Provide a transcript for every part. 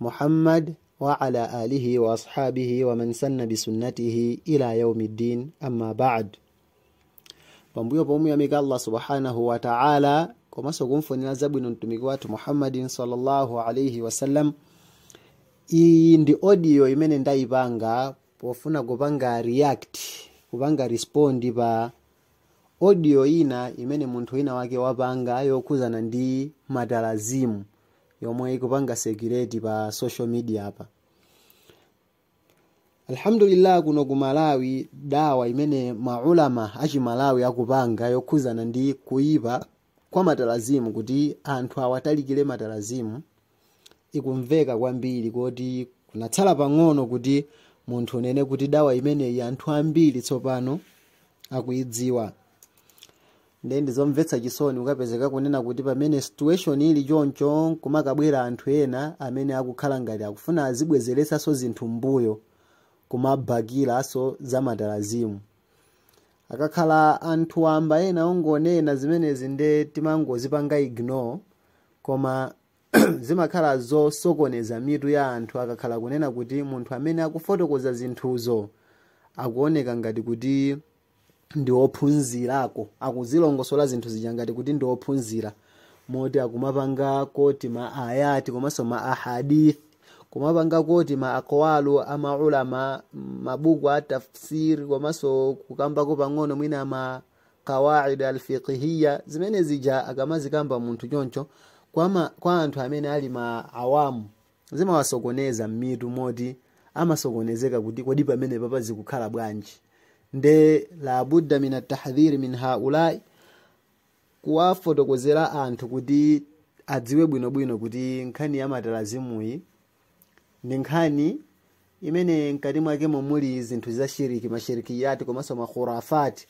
Muhammad wa ala alihi wa ashabihi wa man sanna bi sunnatihi ila yaumiddin amma ba'd pambuyo pomuyamika allah subhanahu wa ta'ala komanso kumfunira zabwino mtumiki wathu muhammadin sallallahu alaihi wasallam iyi ndi audio imene ndayipanga pofuna kupanga react kupanga respond pa audio ina imene munthu wina wake wapanga yokhuzana ndi matalazimu yomwe ikupanga circulate pa social media apa alhamdulillah kuno ku Malawi dawa imene maulama achimalawi akupanga yokhuzana ndi kuyipa kwa matalazimu kuti anthu awatalikire matalazimu ikumveka kwambiri kuti kunatsala pang'ono kuti munthu unene kuti dawa imeneyi anthu ambiri tsopano akuyidziwa nde ndizomvetsa chisoni kukapezeka kunena kuti pamene situation ili choncho nkumakabwera anthu ena amene akukhala ngati akufuna azibwezeraso zinthu m'mbuyo kumabakiraso zamatalazimu akakhala anthu wamba ena ongonena zimenezi nde timangozipanga ignore koma zimakhala zosokoneza mitu ya anthu akakhala kunena kuti munthu amene akufotokoza zinthuzo akuoneka ngati kuti ndi ophunzirako akuzilongosola zinthu zija ngati kuti ndi ophunzira moti akumapanga quote ma ayati komanso ma ahadith kumapanga quote ma akwalu amaulama mabuku a tafsir komanso kukambako pang'ono mwina ma kawaid alfiqhiya zimene zija akamazikamba munthu choncho kwa, ma, kwa anthu amene ali ma awamu zimawasokoneza m'mitu moti amasokonezeka kuti kodi pamenepapa zikukhala bwanji nde la budda min attahdhir min haulai kuwafotokozera anthu kuti adziwe bwinobwino kuti nkhani ya matalazimuyi ndi nkhani imene mkati mwakemo muli zinthu za shiriki mashirikiyati komanso makhurafati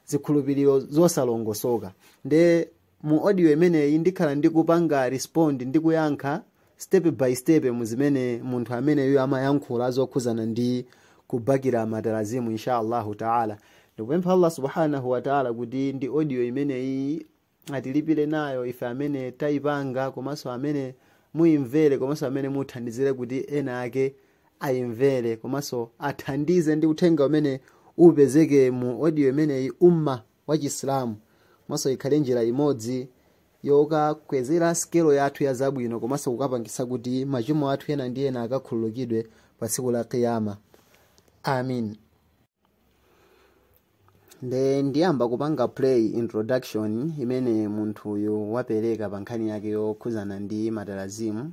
zikhulupiriro zosalongosoka nde mu audio imeneyi ndikhala ndikupanga respond ndi kuyankha step by step mu zimene munthu ameneyu amayankhula zokhuzana ndi kubakira matalazimu insha allahu taala ndikupempha allah subhanahu wataala kuti ndi audio imeneyi atilipire nayo ife amene tayipanga komanso amene muyimvere komanso amene muthandizire kuti ena ake ayimvere komanso athandize ndi uthenga umene upezeke mu audio imeneyi umma wa Chisilamu komanso ikhale njira imodzi yokakwezera sikelo yathu ya zabwino komanso kukapangitsa kuti machimo athu ena ndi ena akakhululukidwe pa tsiku la Qiyama. Amin. Nde ndiyamba kupanga play introduction imene munthuyu wapereka pa nkhani yake yokhuzana ndi matalazimu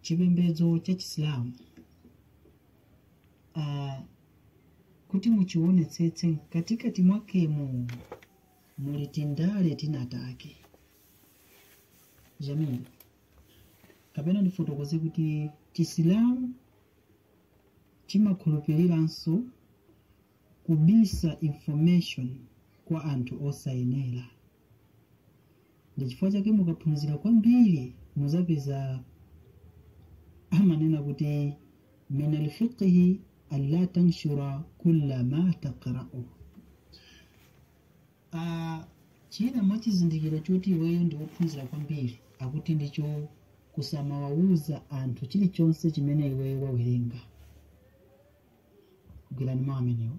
chipembedzo cha chisilamu uh, kuti muchiwonetsetse mkatikati mwakemo muli tindale tinatake Jamil kapena ndifotokoze kuti chisilamu chimakhulupiriranso kubisa information kwa anthu osayenera ndi chifukwa chake mukaphunzira kwambiri muzapeza amanena kuti min alfiqhi alla tanshura kulla ma taqra'u Ah, china mwa chizindikiro choti iweyo ndi wophunzira kwambiri akuti ndicho kusamawawuza anthu chilichonse chimene iweyo wawerenga gwirani mawu amenewo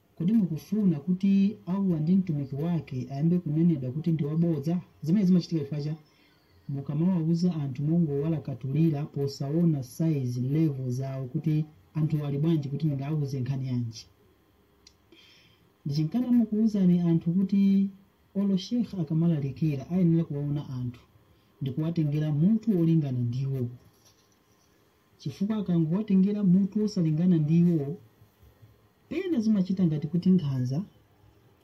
Kodi mukufuna kuti Allah ndi Mtumiki wake ayambe kunenedwa kuti ndi wabodza? Zimenezi zimachitika chifukwa cha mukamawauza anthu mongowalakatulira posaona size, level zawo kuti anthuwo ali bwanji kuti ndingawauze nkhani yanji. N'chifukwa chake timakuuzani anthu kuti olo Sheikh akamalalikira ayenera kuwaona anthu ndikuwatengera mutu wolingana ndiwo. chifukwa akangowatengera mutu wosalingana ndi iwowo, pena zimachitika ngati kuti nkhanza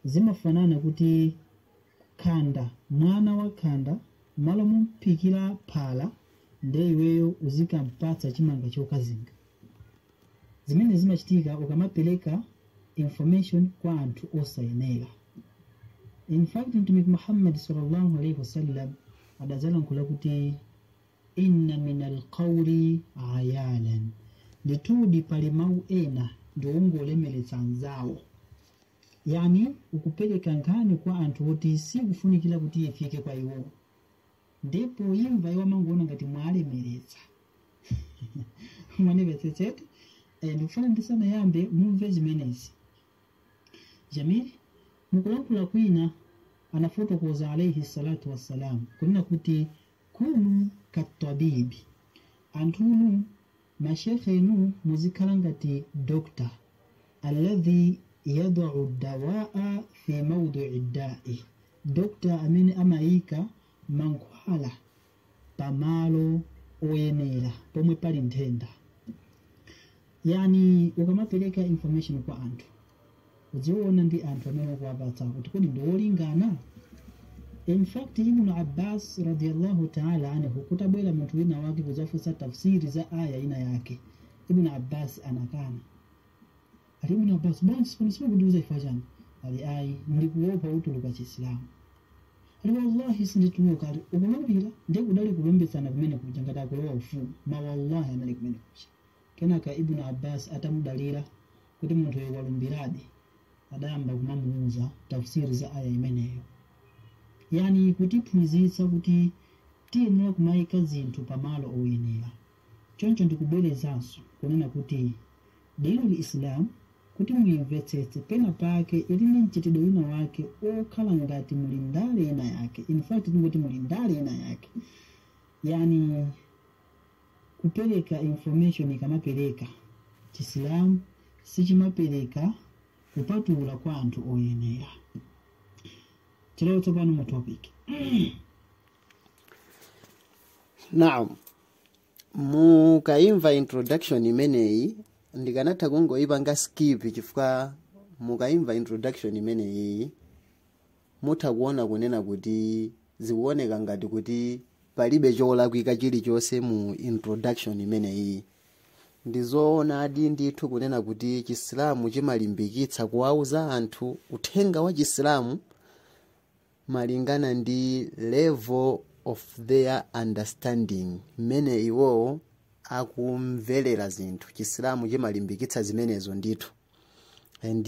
zimafanana kuti khanda, mwana wa khanda m'malo momuphikira phala nde iweyo uzikampatsa chimanga chokazinga. Zimenezi zimachitika ukamapereka information kwa anthu osayenera. In fact Mtumiki Muhammad, Sallallahu Alayhi Wasallam, adadzalankhula kuti. Inna min alqauli ayaalan, ndithudi pali mawu ena ndi ongolemeretsa anzawo. Yani ukupereka nkhani kwa anthu oti sikufunikira kuti ifike kwa iwowo, nde poyimva iwo amangoona ngati mwawalemeretsa. Mwandimvetsetseti? Eh, ndikufuna ndisanayambe mumve zimenezi. Jamil mukulankhula kwina anafotokoza alaihi salatu wassalam kunena kuti Kunu kattabibi, anthunu, ma shekhenu muzikhala ngati doctor, alladhi yadau ddawaa fi maudii ddai, doctor amene amaika mankhwala pamalo oyenera, pomwe pali nthenda. Yani ukamapereka information kwa anthu uziona ndi anthu amene ukuwapatsa kuti kodi ndi olingana in fact ibnu abbas radiallahu taala anhu kutabwera munthu wina wake kudzafunsa tafsir za ayah ina yake ibnu abbas anakana ali ibnu abbas bwanji si pano simukundiuza chifukwa chani ali ayi ndikuopa utuluka chisilamu ali wallahi sindituluka ali ukulumbira ndiye kudali kulumbitsana kumene kuja ngati akulowa ufumu, mawallahi anali kumene kuja Kenaka Ibn Abbas atamudalira kuti munthuyo walumbiradi, adayamba kumamuuza tafsir za ayah imeneyo. Yani kutiphunzitsa kuti tiyenera kumaika zinthu pa malo oyenera. Choncho ndikubwerezanso kunena kuti Deenul Islam kuti muimvetsetse pena pake ili ndi mchitidwe wina wake okhala ngati muli ndale ina yake, in fact tingoti muli ndale ina yake. Yani. Kupereka information ikamapereka, chisilamu sichimapereka kupatula kwa anthu oyenera. Tilowe tsopano mu topic. Naam. Mukaimva introduction imeneyi ndikanatha kungoipanga skip chifukwa mukaimva introduction imeneyi Mutha kuona kunena kuti zikuoneka ngati kuti palibe cholakwika chilichonse mu introduction imeneyiyi. Ndi zoonadi ndithu kunena kuti Chisilamu chimalimbikitsa kuwauza anthu uthenga wa Chisilamu malingana ndi level of their understanding, mmene iwowo akumverera zinthu. Chisilamu chimalimbikitsa zimenezo ndithu and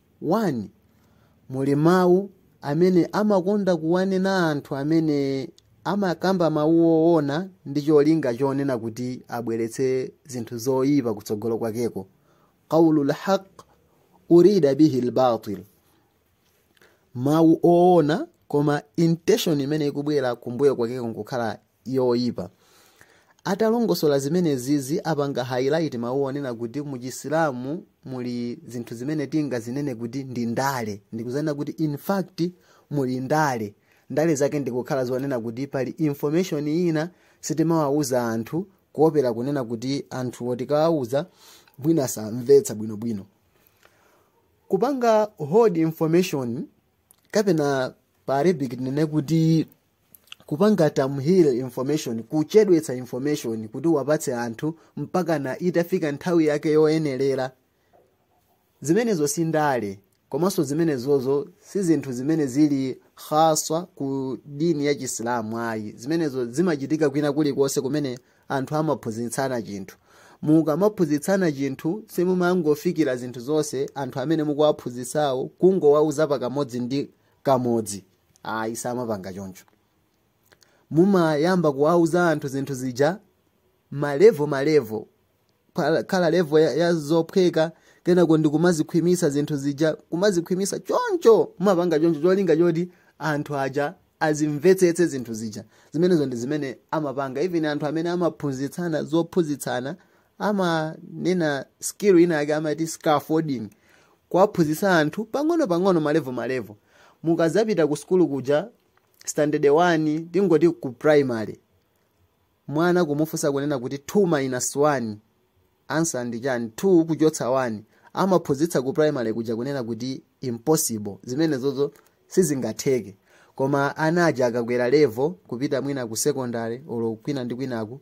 muli mawu amene amakonda kuwanena anthu amene amakamba mawu oona ndi cholinga chonena kuti abweretse zinthu zoyipa kutsogolo kwakeko qaulu lhaq urida bihi lbatil mawu oona koma intention imene ikubwera kumbuyo kwakeko nkukhala yoipa atalongosola zimenezizi apanga highlight mawu onena kuti mu chisilamu muli zinthu zimene tingazinene kuti ndi ndale ndikudzanena kuti in fact muli ndale ndale zake ndikukhala zonena kuti pali information ina sitimawawuza anthu kuopera kunena kuti anthuwo tikawawuza mwina samvetsa bwinobwino kupanga hold information kapena pa arabic tinene kuti kupanga tamhil information kuchedwetsa information kuti wapatse anthu mpakana itafika nthawi yake yoyenerera zimenezo si ndale komanso zimenezozo si zinthu zimene zili khaswa ku dini ya chisilamu ayi zimenezo zimachitika kwina kulikonse kumene anthu amaphunzitsana chinthu mukamaphunzitsana chinthu simumangofikira zinthu zonse anthu amene mukuwaphunzitsawo kungowauza pakamodzi ndi kamodzi ayi samapanga choncho mumayamba kuwauza anthu zinthu zija malevo malevo pamakhala levo ya, ya zophweka kenako ndi kumazikhwimisa zinthu zija kumazikhwimisa choncho mumapanga choncho cholinga choti anthu aja azimvetsetse zinthu zija zimenezo ndi zimene amapanga even anthu amene amaphunzitsana zophunzitsana amanena skill ina yake amati scaffolding kuwaphunzitsa anthu pang'ono pang'ono malevo malevo mukadzapita ku sukulu kuja standard 1 tingoti ku primary mwana kumufunsa kunena kuti 2 minus 1 ansa ndi chani 2 kuchotsa 1 amaphunzitsa ku primary kuja kunena kuti impossible zimenezozo sizingatheke koma ana aja akakwera levo kupita mwina ku secondary olo kwina ndi kwinaku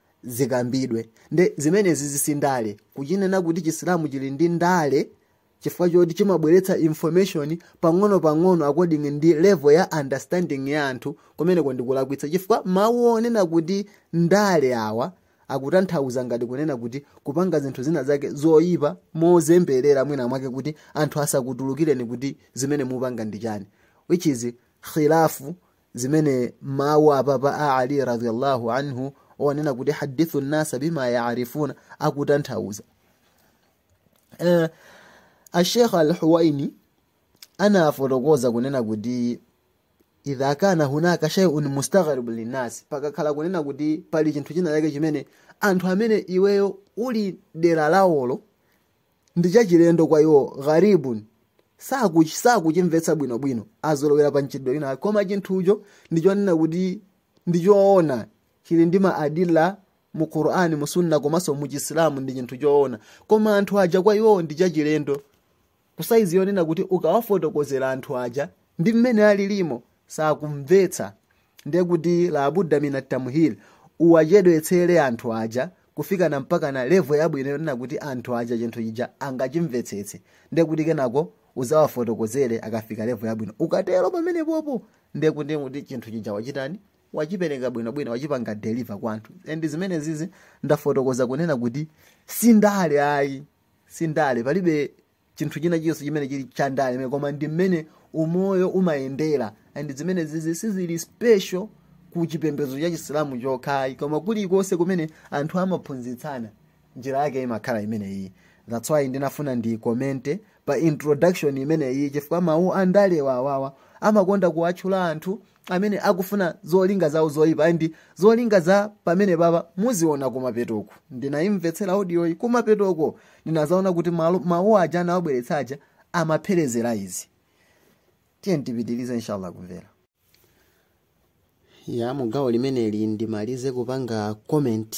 zikambidwe nde zimenezi zi si ndale kuchinena kuti chisilamu chili ndi ndale chifukwa choti chimabweretsa information pang'ono pang'ono according ndi level ya understanding ya anthu kumeneko ndikulakwitsa chifukwa mawu onena kuti ndale awa akutanthauza ngati kunena kuti kupanga zinthu zina zake zoyipa mozemberera mwina mwake kuti anthu asakutulukireni kuti zimene mupanga ndi chani which is khilafu zimene mawu apapa a Ali radhiyallahu anhu onena kuti hadithu nnasa bima yaarifuna akutanthauza uh, eh, ashekh Alhuwaini anafotokoza kunena kuti idha kana hunaka shay'un mustaghrib linnas pakakhala kunena kuti pali chinthu china chake chimene anthu amene iweyo uli dera lawolo ndi chachilendo kwa iwo gharibun sakuch- sakuchimvetsa bwinobwino azolowera pa mchitidwe wina wake. koma chinthucho ndichonena kuti ndichoona chili ndi ma adila mu qur'ani mu sunna komanso mu chisilamu ndi chinthu choona koma anthu aja kwa iwo ndi chachilendo kusaizi yonena kuti ukawafotokozera anthu aja ndi mmene alilimo sakumvetsa ndiye kuti labuda mina tamhil uwachedwetsere anthu aja kufika na mpakana levo yabwino yonena kuti anthu aja chinthu chija angachimvetsetse ndiye kuti kenako uzawafotokozere akafika levo yabwino ukatero pamenepopo ndiye kuti chinthu chija wachitani wachipereka bwinobwino wachipanga deliver kwa anthu and zimenezizi ndafotokoza kunena kuti si ndale ayi si ndale palibe chinthu china chilichonse chimene chili cha ndale imene koma ndi mmene umoyo umayendera and zimenezizi sizili special ku chipembedzo cha chisilamu chokhayi koma kulikonse kumene anthu amaphunzitsana njira yake imakhala imeneyi that's why ndinafuna ndikomente pa introduction imeneyi chifukwa mawu andale awawa amakonda kuwatchula anthu amene akufuna zolinga zawo zoyipa ndi zolinga za pamenepapa muziona kumapetoku ndinayimvetsera audiyoyi kumapetoko ndinazaona kuti malo- mawu aja amawabweretsa aja amapherezera izi, tiyeni tipitirize inshallah kumvera yaa mugawo limeneli ndimalize kupanga comment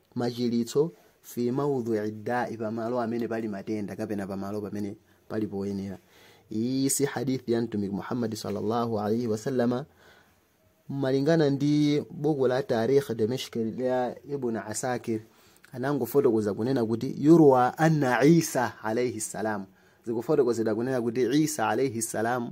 machiritso fi maudhui dai, pamalo amene pali matenda kapena pamalo pamene pali poyenera. Iyi si hadith ya Mtumiki Muhammad sallallahu alaihi wasallama malingana ndi buku la Tarikh Dimashq ya Ibn Asakir anangofotokoza kunena kuti yurwa anna Isa alaihi salam, zikufotokozedwa kunena kuti Isa alaihi salam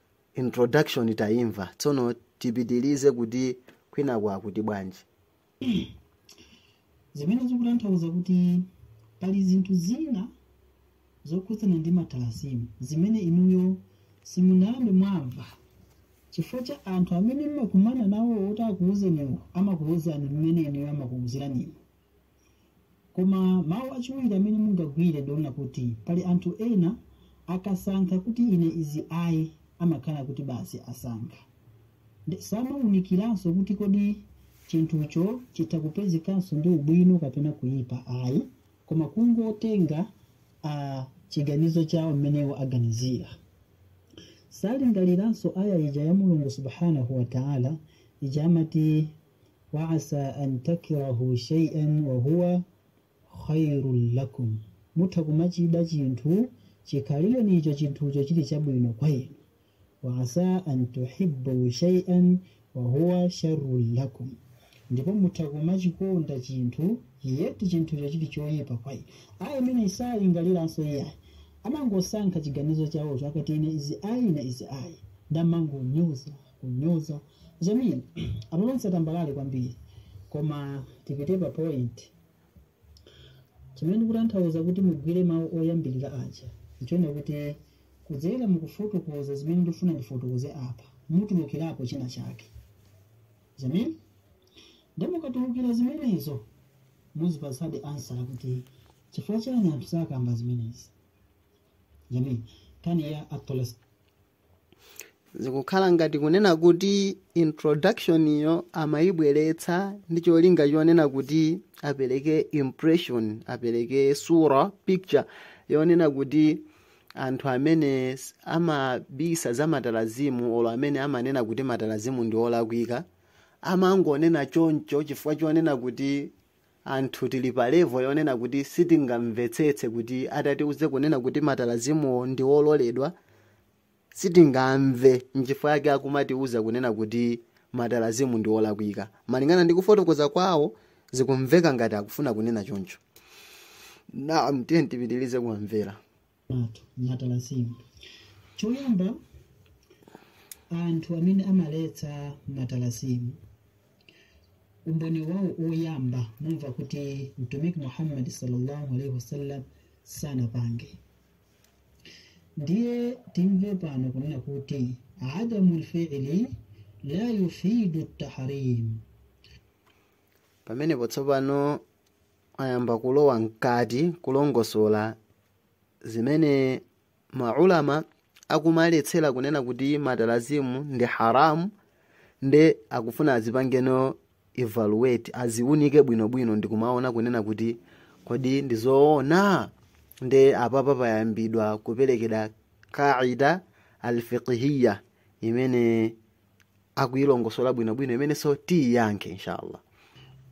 introduction taimva tsono tipitilize kuti kwinaku akuti bwanji zimene zikutanthauza kuti pali zinthu zina zokhudzana ndi matalasimu zimene inuyo simunayambe mwamva chifukwa cha anthu amene mumakumana nawo oti akuwuzeniwo amakuwuzani mmene inuyo amakuwuziraniwo Koma mawu achiwiri amene mungagwire ndi onena kuti pali anthu ena akasankha kuti ine izi ayi amakhala kuti basi asankha. Nde samawunikiranso kuti kodi chinthucho chitha kupezekanso ndi ubwino kapena kuyipa ayi koma kungotenga a chiganizo chawo mmene iwo aganizira. Salingaliranso ayah ija ya Mulungu Subhaanah wa Ta'ala ija amati waasa an takrahu shay'an wa huwa khairun lakum mutha kumachida chinthu chikhalirenicho chinthucho chili chabwino kwa inu waasa an tuhibbu shay'an wa huwa sharrun lakum ndipo mutha kumachikonda chinthu yet chinthucho chili choyipa kwa inu ayah imeneyi salingaliranso iyayi amangosankha chiganizo chawocho akati ine izi ayi ine izi ayi nde amangonyoza kunyoza jamil amalonse tambalale kwambiri koma tipite pa point chimene ndikutanthauza kuti mugwire mawu oyambirira aja nchonena kuti kudzera mukufotokoza zimene ndifuna ndifotokoze apa mutulukirapo china chake jamil nde mukatulukira zimenezo muzipatsa answer kuti chifukwa chani anthu sakamba zimenezi jamil kani ya atoles zikukhala ngati kunena kuti introduction iyo amayibweretsa ndi cholinga chonena kuti apereke impression apereke chithunzi picture yonena kuti anthu amene s- amabisa za matalazimu olo amene amanena kuti matalazimu ndi olakwika amangonena choncho chifukwa chonena kuti Anthu tili pa level yonena kuti sitingamvetsetse kuti atatiuze kunena kuti matalazimuwo ndi ololedwa sitingamve nchifukwa yake akumatiuza kunena kuti matalazimu ndi olakwika. Malingana ndi kufotokoza kwawo zikumveka ngati akufuna kunena choncho. Naam tiyeni tipitirize kuwamvera. matalasimu choyamba anthu amene amaletsa matalasimu umboni wawo oyamba mumva kuti mtumiki muhammadi sallallahu alaihi wasallam sanapange ndiye timve pano kunena kuti adamu lfili la yufidu tahrim pamenepo tsopano ayamba kulowa mkati kulongosola zimene ma ulama akumaletsera kunena kuti matalazimu ndi haramu nde akufuna azipangeno evaluate aziunike bwinobwino ndikumaona kunena kuti kodi ndi zoona nde apapa payambidwa kuperekedwa qaida alfiqhiya imene akuyilongosola bwinobwino imenenso tiyiyankhe inshallah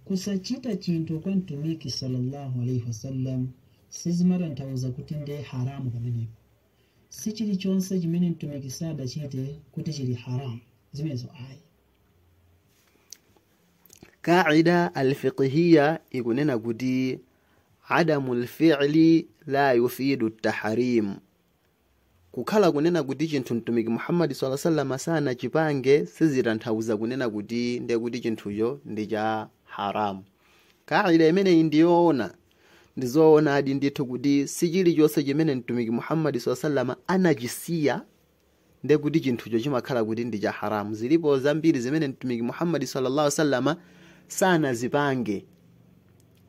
kusachita chinthu kwa mtumiki sallallahu alaihi wasallam sizimatanthauza kuti ndiye haramu pamenepo si chilichonse chimene mtumiki sadachite kuti chili haramu zimenezo ayi kaida alfiqhiya ikunena kuti adamu lfili la yufidu tahrim Kukhala kunena kuti chinthu Mtumiki Muhammad salla sallama sanachipange sizitanthauza kunena kuti ndiye kuti chinthucho ndi cha haramu. Kaida imeneyi ndi yoona. Ndi zoonadi ndithu kuti si chilichonse chimene Mtumiki Muhammad salla sallama anachisiya ndiye kuti chinthucho chimakhala kuti ndi cha haramu zilipo zambiri zimene mtumiki muhammadi sallallahu alaihi wasallama sanazipange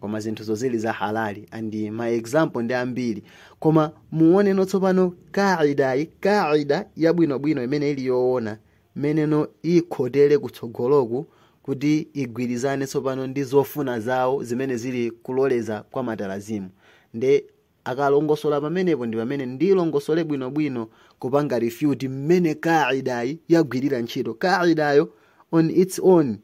koma zinthuzo zili za halali and ma example ndi ambiri koma muoneno tsopano kaidayi kaida yabwinobwino imene ili yoona mmeneno ikhotere kutsogoloku kuti igwirizane tsopano ndi zofuna zawo zimene zili kuloleza kwa matalazimu nde Akalongosola pamenepo ndi pamene ndilongosole bwino bwino kupanga refute mmene qaidayi yagwirira ntchito. Qaidayo on its own,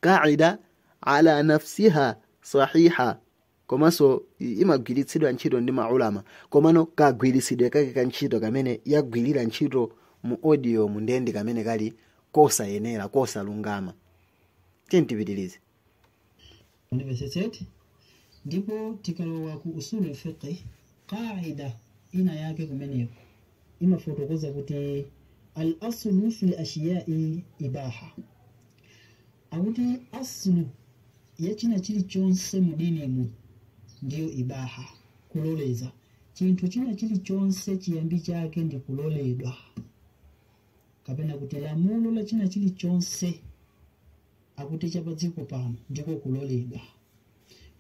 qaidayo ala nafsiha sahiha, komanso imagwiritsidwa ntchito ndi ma ulama. Komano kagwiritsidwe kake ka ntchito kamene yagwirira ntchito mu audiomu ndiye ndi kamene kali kosayenera, kosalungama. Tiyeni tipitirize. University ndipo tikalowa ku usulul fiqh qaida ina yake kumeneko imafotokoza kuti al aslu fil ashiyai ibaha akuti aslu ya china chilichonse mudinimu ndiyo ibaha kuloleza chinthu china chilichonse chiyambi chake ndi kuloledwa kapena kuti lamulo la china chilichonse akuti cha padziko pano ndiko kuloledwa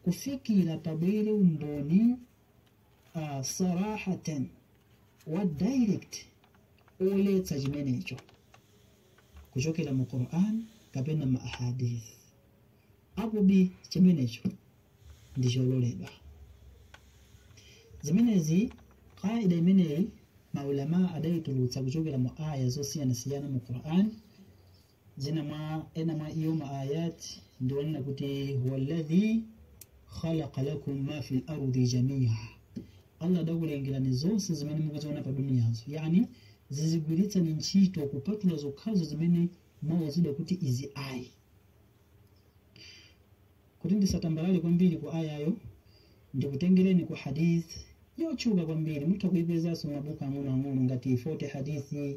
kufikira pabwere umboni uh, sarahatan wa direct oletsa chimenecho kuchokera mu quran kapena mu ahadith akuti chimenecho ndi chololedwa zimenezi qaida imeneyi maulama adayitulutsa kuchokera mu aya zosiyanasiyana mu quran zina mwa ena mwa iyo ma ayat ndi yonena kuti walladhi khalaqa lakum ma fil ardi jamia allah adakulengerani zonse zimene mukuziona pa duniyazo yani zizigwiritsani ntchito kupatula zokhazo zimene mwauzidwa kuti izi ayi kuti ndisatambalale kwambiri ku ayayo ndikutengereni ku hadith yotchuka kwambiri mutha kuipezanso mabuku ang'onoang'ono ngati 40 hadithi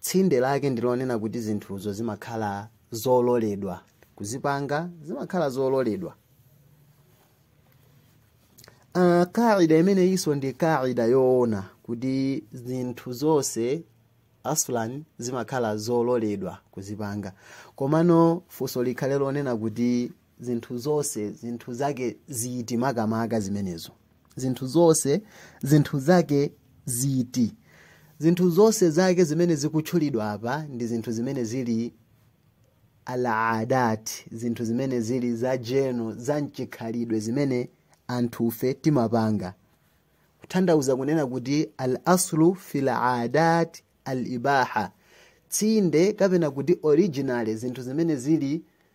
Tsinde lake ndi lonena kuti zinthuzo zimakhala zololedwa kuzipanga, zimakhala zololedwa. Uh, kaida imeneyinso ndi kaida yoona kuti zinthu zonse aslan zimakhala zololedwa kuzipanga komano funso likhale lonena kuti zinthu zonse zinthu zake ziti makamaka zimenezo zinthu zonse zinthu zake ziti zinthu zonse zake zimene zikutchulidwa apa ndi zinthu zimene zili alaadat zinthu zimene zili za general za mchikhalidwe zimene anthufe timapanga kutanthauza kunena kuti al aslu fil adat al ibaha tsinde kapena kuti original zinthu zimene zili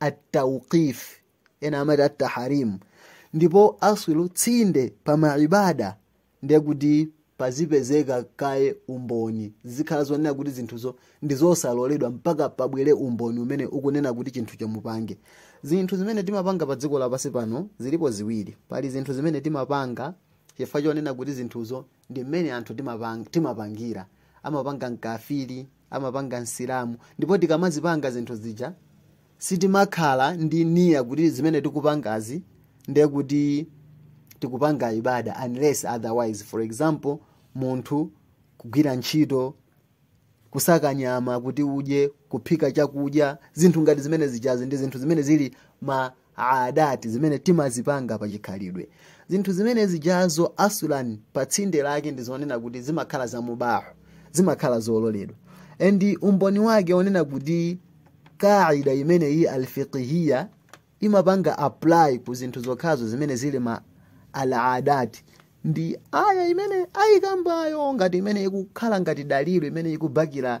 atawqif ena amati attahrim ndipo aslu tsinde pa maibada ndiye kuti pazipezeka kaye umboni zikhala zonena kuti zinthuzo ndi zosaloledwa mpaka pabwere umboni umene ukunena kuti chinthu chomupange zinthu zimene timapanga pa dziko lapansi pano zilipo ziwiri pali zinthu zimene timapanga chifukwa chonena kuti zinthuzo ndi mmene anthu timapang- timapangira amapanga mkafiri amapanga msilamu ndipo tikamazipanga zinthu zija sitimakhala ndi niya kuti zimene tikupangazi ndiye kuti tikupanga ibada unless otherwise for example munthu kugwira ntchito kusaka nyama kuti udye kuphika chakudya zinthu ngati zimene zijazi ndi zinthu zimene zili ma aadati zimene timazipanga pa chikhalidwe zinthu zimene zijazo aslan pa tsinde lake ndi zonena kuti zimakhala za mubah zimakhala zololedwa and umboni wake wonena kuti kaida imeneyi alfiqhiya imapanga apply ku zinthu zokhazo zimene zili ma al adati ndi aya imene ayikambayo ngati imene ikukhala ngati dalili imene ikubakira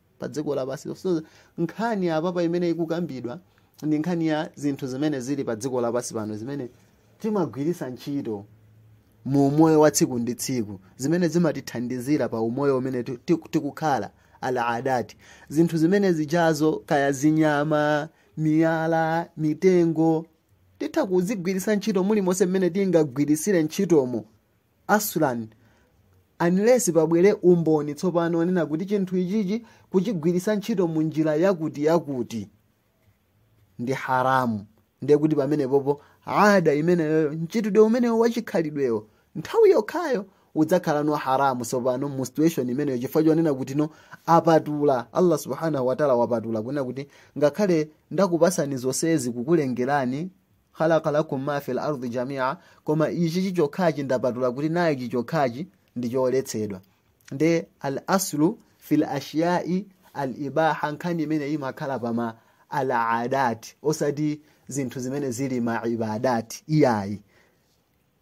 pa dziko lapansi so nkhani apapa imene ikukambidwa ndi nkhani ya zinthu zimene zili pa dziko lapansi pano zimene timagwiritsa ntchito mu umoyo wa tsiku ndi tsiku zimene zimatithandizira pa umoyo umene ti- ti- tikukhala al adati zinthu zimene zijazo kaya zinyama miyala mitengo titha kuzigwiritsa ntchito mulimonse mmene tingagwiritsire ntchitomo aslan unless pabwere umboni tsopano wonena kuti chinthu ichichi kuchigwiritsa ntchito mu njira yakuti yakuti ndi haramu ndiye kuti pamenepopo ada imeneyoyo mchitidwe umenewo wachikhalidwewo nthawi yokhayo udzakhalano haramu tsopano mu situation imeneyo chifukwa chonena kuti no apatula allah subhanahu wataala wapatula kunena kuti ngakhale ndakupasani zonsezi kukulengerani khalaqa lakum ma fi lardi jamia koma ichi chichokhachi ndapatula kuti naye ichi chokhachi ndi choletsedwa ndiye al aslu fi lashyai al ibaha nkhani imene imakhala pa ma al adati osati zinthu zimene zili ma ibadati iyayi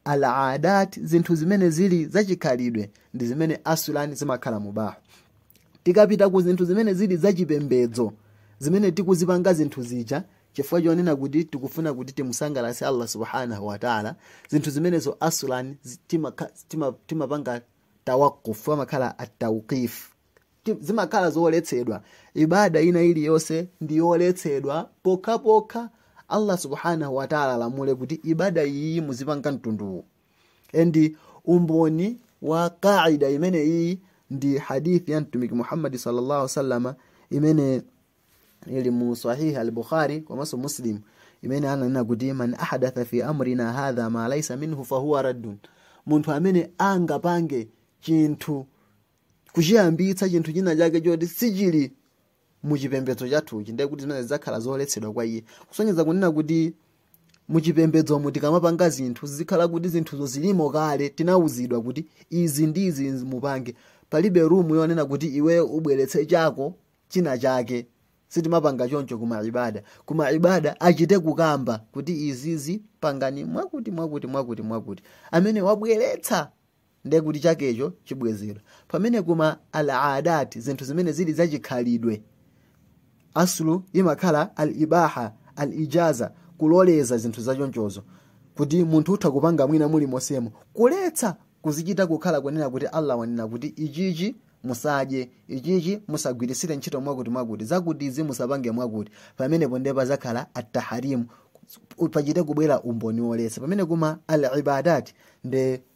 al-adat zinthu zimene zili zachikhalidwe ndi zimene aslan zimakhala mubah tikapita ku zinthu zimene zili zachipembedzo zimene tikuzipanga zinthu zija chifukwa chonena kuti tikufuna kuti timusangalatse allah subhanahu wataala zinthu zimenezo aslan zi- timaka- tima- timapanga tawaqufu amakhala atawqif Ti- zimakhala zoletsedwa ibada ina iliyonse ndi yoletsedwa pokhapokha allah subhanahu wata'ala alamule kuti ibada iyi muzipanga mtunduwu and umboni wa qaida imeneyi ndi hadithi ya mtumiki muhammadi sallallahu alaihi wasallama imene ili mu sahih al-bukhari komanso muslim imene ananena kuti man ahadatha fi amrina hadha ma laysa minhu fahuwa raddun munthu amene angapange chinthu kuchiyambitsa chinthu china chake choti sichili mu chipembedzo chathuchi ndiye kuti zimenezo zidzakhala zoletsedwa kwa iye kusonyeza kunena kuti mu chipembedzomo tikamapanga zinthu zizikhala kuti zinthuzo zilimo kale tinawuzidwa kuti izi ndi izi mupange palibe rumu yonena kuti iweyo ubweretse chako china chake sitimapanga choncho kuma ibada kuma ibada achite kukamba kuti izizi pangani mwakuti mwakuti mwakuti mwakuti amene wabweretsa ndiye kuti chakecho chibwezedwa pamene kuma al adat zinthu zimene zili zachikhalidwe aslu imakhala al ibaha al ijaza kuloleza zinthu zachonchozo kuti munthu utha kupanga mwina muli mosemo kuletsa kuzichita kukhala kunena kuti allah wanena kuti ichichi musadye ichichi musagwirisire ntchito mwakuti mwakuti zakuti izi musapange mwakuti pamenepo ndiye pazakhala at-tahrimu pachite kubwera umboni woletsa pamene kuma al ibadat ndi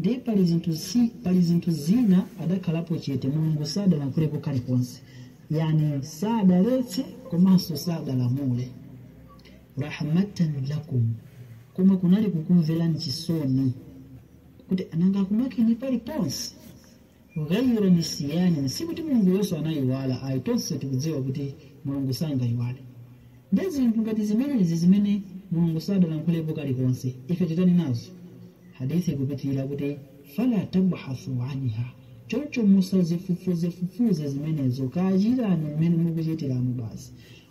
Ndiye pali zinthu si, pali zinthu zina adakhalapo chete, Mulungu sadalankhulepo kalikonse, yaani sadaletse komanso sadalamule. Rahmatan lakum, koma kunali kukumvererani chisoni kuti asangakumangeni paliponse. ghayra nisyanin sikuti mulunguyo anayiwala ayi tonse tikudziwa kuti mulungu sangayiwale ndiye zinthu ngati zimenezi zimene mulungu sadalankhulepo kalikonse ife titani nazo hadithi ikupitirira kuti fala tabhathu anha choncho musazifufuzefufuze zimenezo kachitani mmene mukuchitiramo basi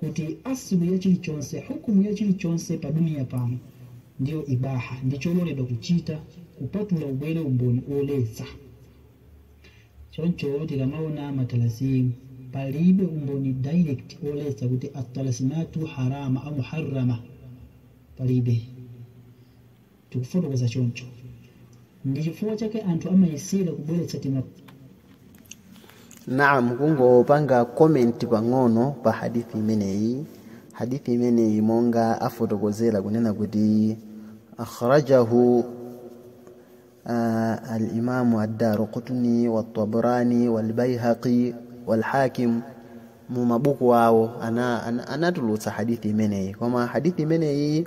kuti aslu ya chilichonse hukumu ya chilichonse pa duniya pano ndiyo ibaha ndi chololedwa kuchita kupatula ubwere umboni woletsa choncho tikamaona matalasimu palibe umboni direct woletsa kuti atalasimatu haram au muharrama palibe tikufotokoza choncho. Ndi chifukwa chake anthu amayesera kubweretsa tima. Naam kungopanga comment pang'ono pa hadith imeneyi. Hadith imeneyi monga afotokozera kunena kuti akhrajahu uh, al-Imam ad-Daraqutni wat-Tabrani wal-Baihaqi wal-Hakim mu mabuku awo ana, ana, anatulutsa hadith imeneyi koma hadith imeneyi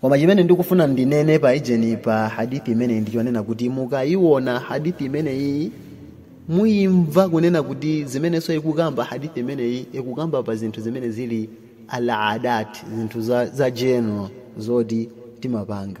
koma chimene ndikufuna ndinene pa ijeni pa hadithi imeneyi ndichonena kuti mukayiona hadithi imeneyi muyimva kunena kuti zimenenso ikukamba hadithi imeneyi ikukamba pa zinthu zimene zili aladat zinthu za, za general zoti timapanga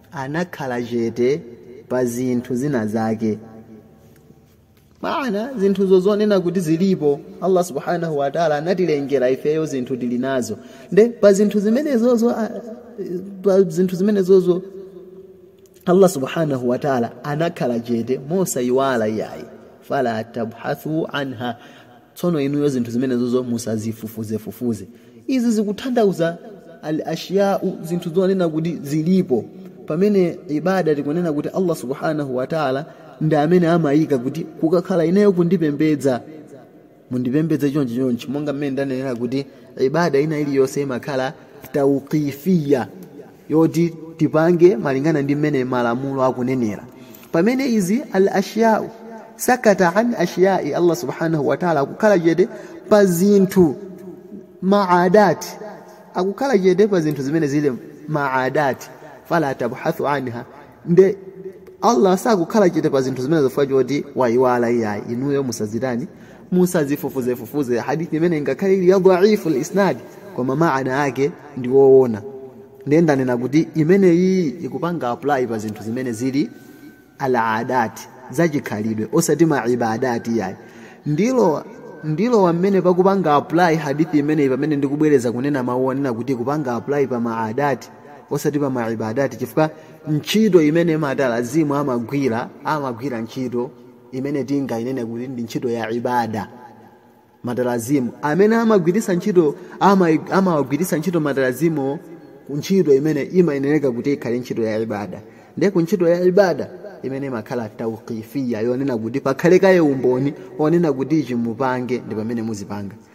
anakhala chete pa zinthu zina zake maana zinthuzo zonena kuti zilipo allah subhanahu wataala anatilengera ifeyo, zinthu tili nazo nde pa zinthu zimenezozo ah, pa zinthu zimenezozo allah subhanahu wataala anakhala chete mosayiwala iyayi fala tabhathu anha tsono inuyo zinthu zimenezozo musazifufuzefufuze izi zikutanthauza al ashiyau zinthu zonena kuti zilipo pamene ibada tikunena kuti allah subhanahu wataala ndi amene amayika kuti kukakhala ineyo kundipembedza mundipembedze chonchi chonchi monga mmene ndanenera kuti ibada ina iliyonse imakhala tauqifiya yoti tipange malingana ndi mmene malamulo akunenera pamene izi al ashyau sakata an ashyai allah subhanahu wataala akukhala chete pa zinthu maadati akukhala chete pa zinthu zimene zili maadati fala tabhathu anha nde allah sakukhala chete pa zinthu zimenezo chifukwa choti wayiwala iyayi inuyo musazitani musazifufuzefufuze hadithi imene ingakhale ili ya dhaifu l-isnadi koma maana ake ndi woona ndiye ndanena kuti imeneyi ikupanga apply pa zinthu zimene zili aladati zachikhalidwe osati maibadati iyayi ndilo ndi pamene pakupanga apply hadithi imeneyi pamene ndikubwereza kunena mawu onena kuti kupanga apply pa maadati osati pa maibadati chifukwa ntchito imene matalazimu amagwira amagwira ntchito imene tingainene kuti ndi ntchito ya ibada matalazimu amene amagwiritsa ntchito ama- amawagwiritsa ntchito matalazimu ku ntchito imene imayenereka kuti ikhale ntchito ya ibada ndiye ku ntchito ya ibada imene imakhala tauqifiya yonena kuti pakhale kaye umboni onena kuti ichi mupange ndi pamene muzipanga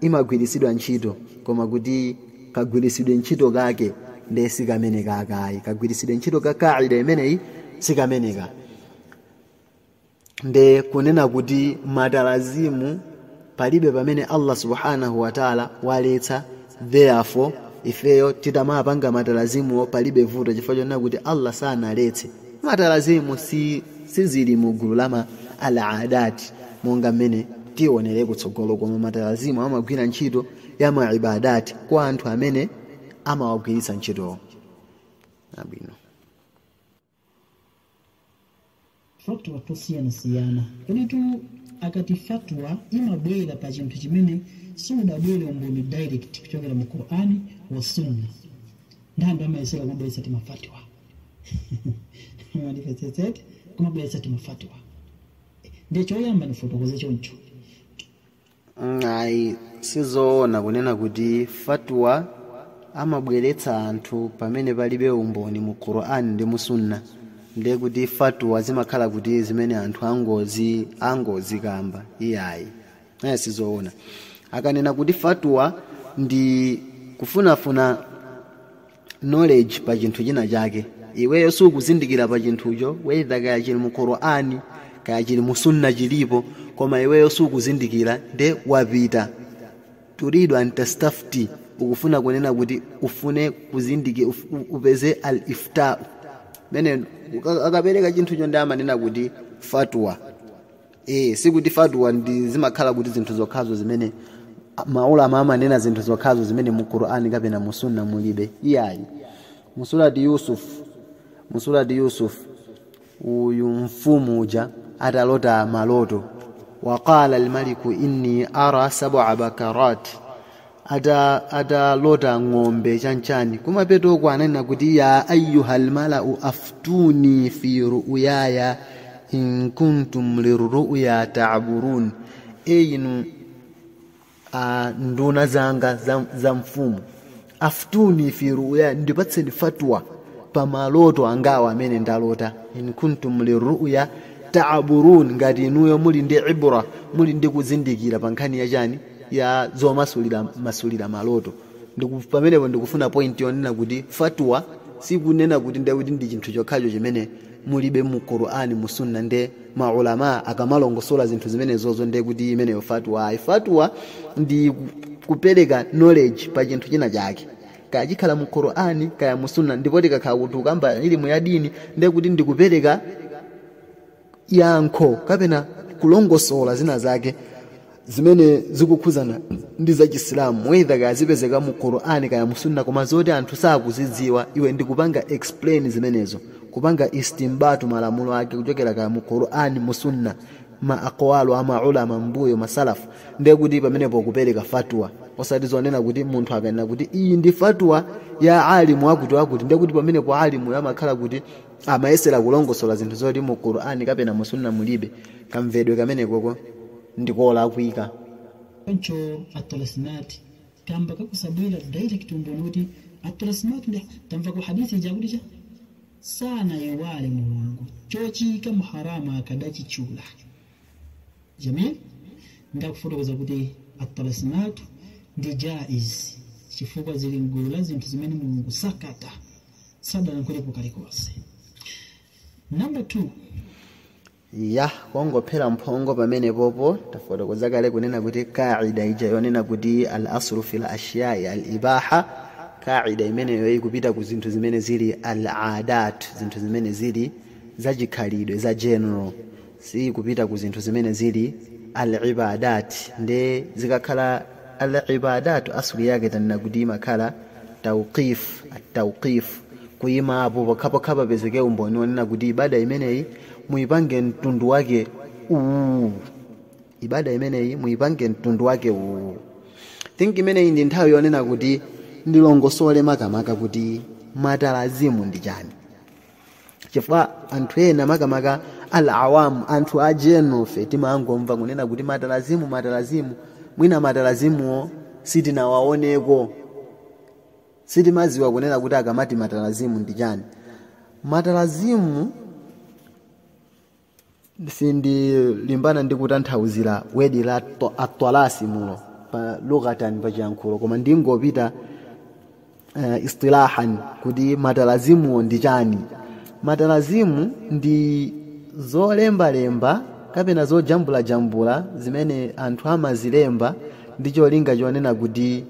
imagwiritsidwa ntchito koma kuti kagwiritsidwe ntchito kake ndiye sikameneka akayi kagwiritsidwe ntchito ka kaida imeneyi sikameneka nde kunena kuti matalazimu palibe pamene allah subhanahu wataala waletsa therefore ifeyo titamawapanga matalazimuwo palibe vuto chifukwa chonena kuti allah sanaletse matalazimu si sizili mu gulu la ma al adat monga mmene tionere kutsogolo koma matalazimu amagwira ntchito ya ma ibadat kwa anthu amene amawagwiritsa ntchitowo abwino fatwa tosiyanasiyana koditu akati fatwa imabwera pa chinthu chimene siunabwere umboni direct kuchokera mu qur'ani wa sunna ndi anthu amayesera kungobweretsa timafatwa mwandipetsetsete kumabweretsa timafatwa ndiye choyamba ndifotokoze choncho Mm, ayi sizoona kunena kuti fatwa amabweretsa anthu pamene palibe umboni mu quran ndi mu sunna ndiye kuti fatwa zimakhala kuti zimene anthu angozi angozikamba iyayi aya sizoona akanena kuti fatwa ndi kufunafuna knowledge pa chinthu china chake iweyo sukuzindikira pa chinthucho weitha kaya chili mu qur'ani kaya chili mu sunna chilipo koma iweyo sukuzindikira nde wapita turidu an tastafti ukufuna kunena kuti ufune kuzindiki- upeze al ifta mene akapereka chinthucho ndi amanena kuti fatwa e, sikuti fatwa ndi zimakhala kuti zinthu zokhazo zimene maulama amanena zinthu zokhazo zimene mu qur'ani kapena mu sunna mulibe iyayi mu surati yusuf mu surati yusuf mfumu uja atalota maloto waqala almaliku inni ara sab'a baqarat ata atalota ng'ombe chanchani kumapetoko ananena kuti ya ayuhal malau aftuni fi ru'yaya in kuntum lirru'ya ta'burun e inu a nduna zanga za, za mfumu aftuni fi ru'yaya ndipatseni fatwa pa maloto angawa amene ndalota in kuntum lirru'ya ta'burun ngati inuyo muli ndi ibra muli ndi kuzindikira pa nkhani ya chani ya zomasulira masulira maloto Ndiku- pamenepo ndikufuna point yonena kuti fatwa sikunena kuti ndiye kuti ndi chinthu chokhacho chimene mulibe mu qur'ani mu sunna nde maulama akamalongosola zinthu zimenezozo ndiye kuti imeneyo fatwa ayi fatwa ndi ku- kupereka knowledge pa chinthu china chake kaya chikhala mu qur'ani kaya mu sunna ndipo tikakhala kuti tukamba ilimu ya dini ndiye kuti ndikupereka yankho kapena kulongosola zina zake zimene zikukhuzana ndi za chisilamu whether kaya zipezeka mu qur'ani kaya musunna koma zoti anthu sakuzidziwa iwe ndikupanga explain zimenezo kupanga istimbatu malamulo ake kuchokera kaya mu qur'ani musunna ma aqwalu a maulama mbuyo masalafu ndiye kuti pamenepo kupereka fatwa osati zonena kuti munthu akanena kuti iyi ndi fatwa ya alimu akuti akuti ndiye kuti pamenepo alimu amakhala kuti amayesera kulongosola zinthu zoti mu qur'ani kapena mu sunna mulibe kamvedwe kamenekoko ndikolakwika choncho atolasimati kamba ka kusabwera direct umboni kuti atolasimati ndi tamva ku hadithi ija kuti chosanaiwale mulungu chochiyika mu haramu akadachitchula jamil nde akufotokoza kuti atolasimatu ndi jaiz chifukwa zili mgulu la zinthu zimene mulungu sakata sadalankhulepo kalikonse number two ya kungophera mphongo pamenepopo tafotokoza kale kunena kuti kaida ija yonena kuti al aslu fil ashiyai al ibaha kaida imeneyo ikupita ku zinthu zimene zili al adat zinthu zimene zili zachikhalidwe za general si kupita ku zinthu zimene zili al-ibadat nde zikakhala al-ibadat asuli yake tanena kuti imakhala tawqif at-tawqif kuyima pokhapokha papezeke umboni wonena kuti ibada imeneyi muyipange mtundu wake uwu ibada imeneyi muyipange mtundu wake uwu think imeneyi ndi nthawi yonena kuti ndilongosole makamaka kuti matalazimu ndi chani chifukwa anthu ena makamaka al awamu anthu a general ife timangomva kunena kuti matalazimu matalazimu mwina matalazimuwo sitinawaoneko sitimaziwa kunena kuti akamati matalazimu ndi chani matalazimu sindilimbana ndi kutanthauzira word la to- atwalasimu pa lughatan pa chiyankhulo koma ndingopita uh, istilahan kuti matalazimuwo ndi chani matalazimu ndi zolembalemba kapena zojambulajambula zimene anthu amazilemba ndi cholinga chonena kuti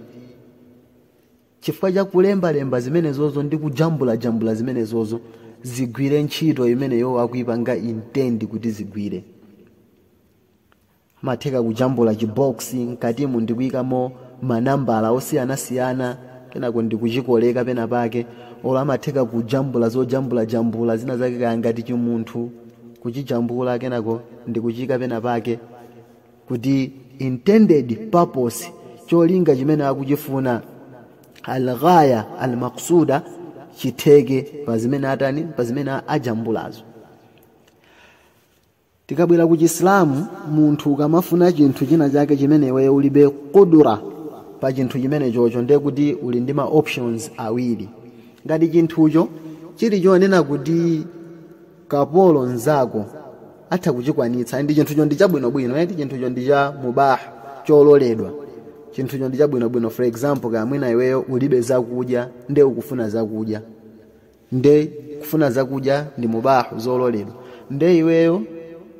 chifukwa cha kulembalemba zimenezozo ndi kujambulajambula zimenezozo zigwire ntchito imene iwo akuipanga intend kuti zigwire amatheka kujambula chiboksi mkatimo ndikuyikamo manambala osiyanasiyana kenako ndikuchikoleka pena pake olo amatheka kujambula zojambulajambula zina zake kaya ngati chimunthu kuchijambula kenako ndikuchiyika pena pake kuti intended purpose cholinga chimene akuchifuna alghaya almaksuda chitheke pa zimene atani pa zimene ajambulazo tikabwera ku chisilamu munthu ukamafuna chinthu china chake chimene iweyo ulibe qudra pa chinthu chimenechocho ndiye kuti uli ndi ma options awiri ngati chinthucho chili chonena kuti kapolo nzako atha kuchikwanitsa ndi chinthucho ndi chabwinobwino eti chinthucho ndi cha mubah chololedwa chinthucho ndi chabwinobwino for example kaya mwina iweyo ulibe zakudya nde ukufuna zakudya nde kufuna zakudya ndi mubahu zololedwa nde iweyo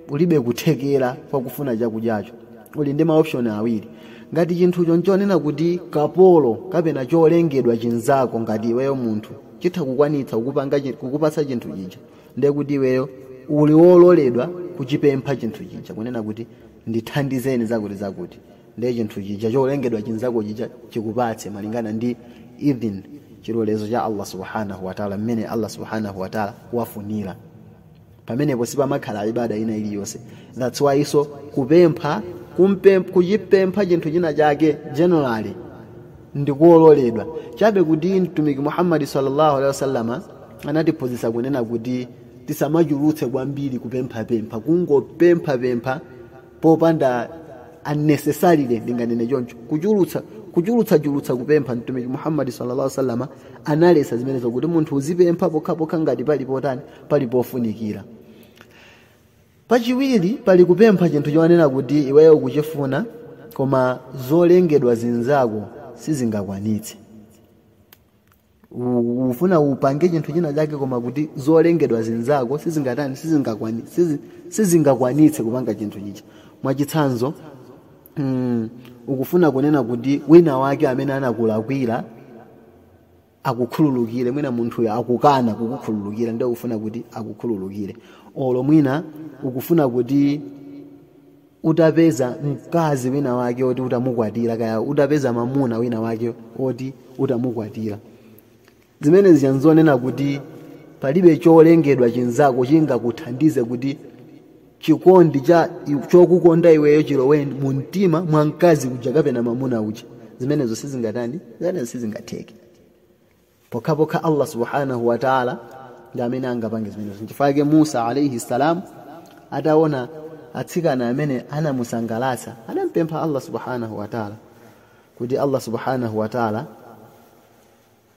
ulibe kuthekera kwa kufuna chakudyacho uli ndi maoption awiri ngati chinthucho nchonena kuti kapolo kapena cholengedwa chinzako ngati iweyo munthu chitha kukwanitsa kukupanga chi- kukupatsa chinthu chija ndiye kuti iweyo uli wololedwa kuchipempha chinthu chija kunena kuti ndithandizeni zakuti zakuti ndiye chinthu chija cholengedwa chinzako chija chikupatse malingana ndi idhin chilolezo cha allah subhanahu wataala mmene allah subhanahu wataala wafunira pamenepo sipamakhala ibada ina iliyonse that's why so kupempha kumpe- kuchipempha chinthu china chake generally ndi kololedwa chabe kuti mtumiki muhammadi sallallahu alaihi wasallama anatiphunzitsa kunena kuti tisamachulutse kwambiri kupemphapempha kungopemphapempha popanda unnecessarily ndinganene choncho kuchulutsa kuchulutsachulutsa kupempha mtumiki muhammadi sallallahu alaihi wasallama analesa zimenezo kuti munthu uzipempha pokhapokha ngati pali potani pali pofunikira pachiwiri pali kupempha chinthu chonena kuti iweyo ukuchifuna koma zolengedwa zinzako sizingakwanitse U- ufuna upange chinthu china chake koma kuti zolengedwa zinzako sizingatani sizingakwani- sizi- sizingakwanitse kupanga chinthu chija mwachitsanzo mm, ukufuna kunena kuti wina wake amene anakulakwira akukhululukire mwina munthuyo akukana kukukhululukira nde ukufuna kuti akukhululukire olo mwina ukufuna kuti utapeza mkazi wina wake oti utamukwatira kaya utapeza mamuna wina wake oti utamukwatira zimenezi ija nzonena kuti palibe cholengedwa chinzako chingakuthandize kuti chikondi cha chokukonda iweyo chilowe mu mtima mwa mkazi uja kapena mamuna uja zimenezo sizingatani zimenezo sizingatheke pokhapokha allah subhanahu wa taala ndi amene angapange zimenezo nchifukwa chake musa alaihi salam ataona atsikana amene anamusangalatsa anampempha allah subhanahu wa taala kuti allah subhanahu wa taala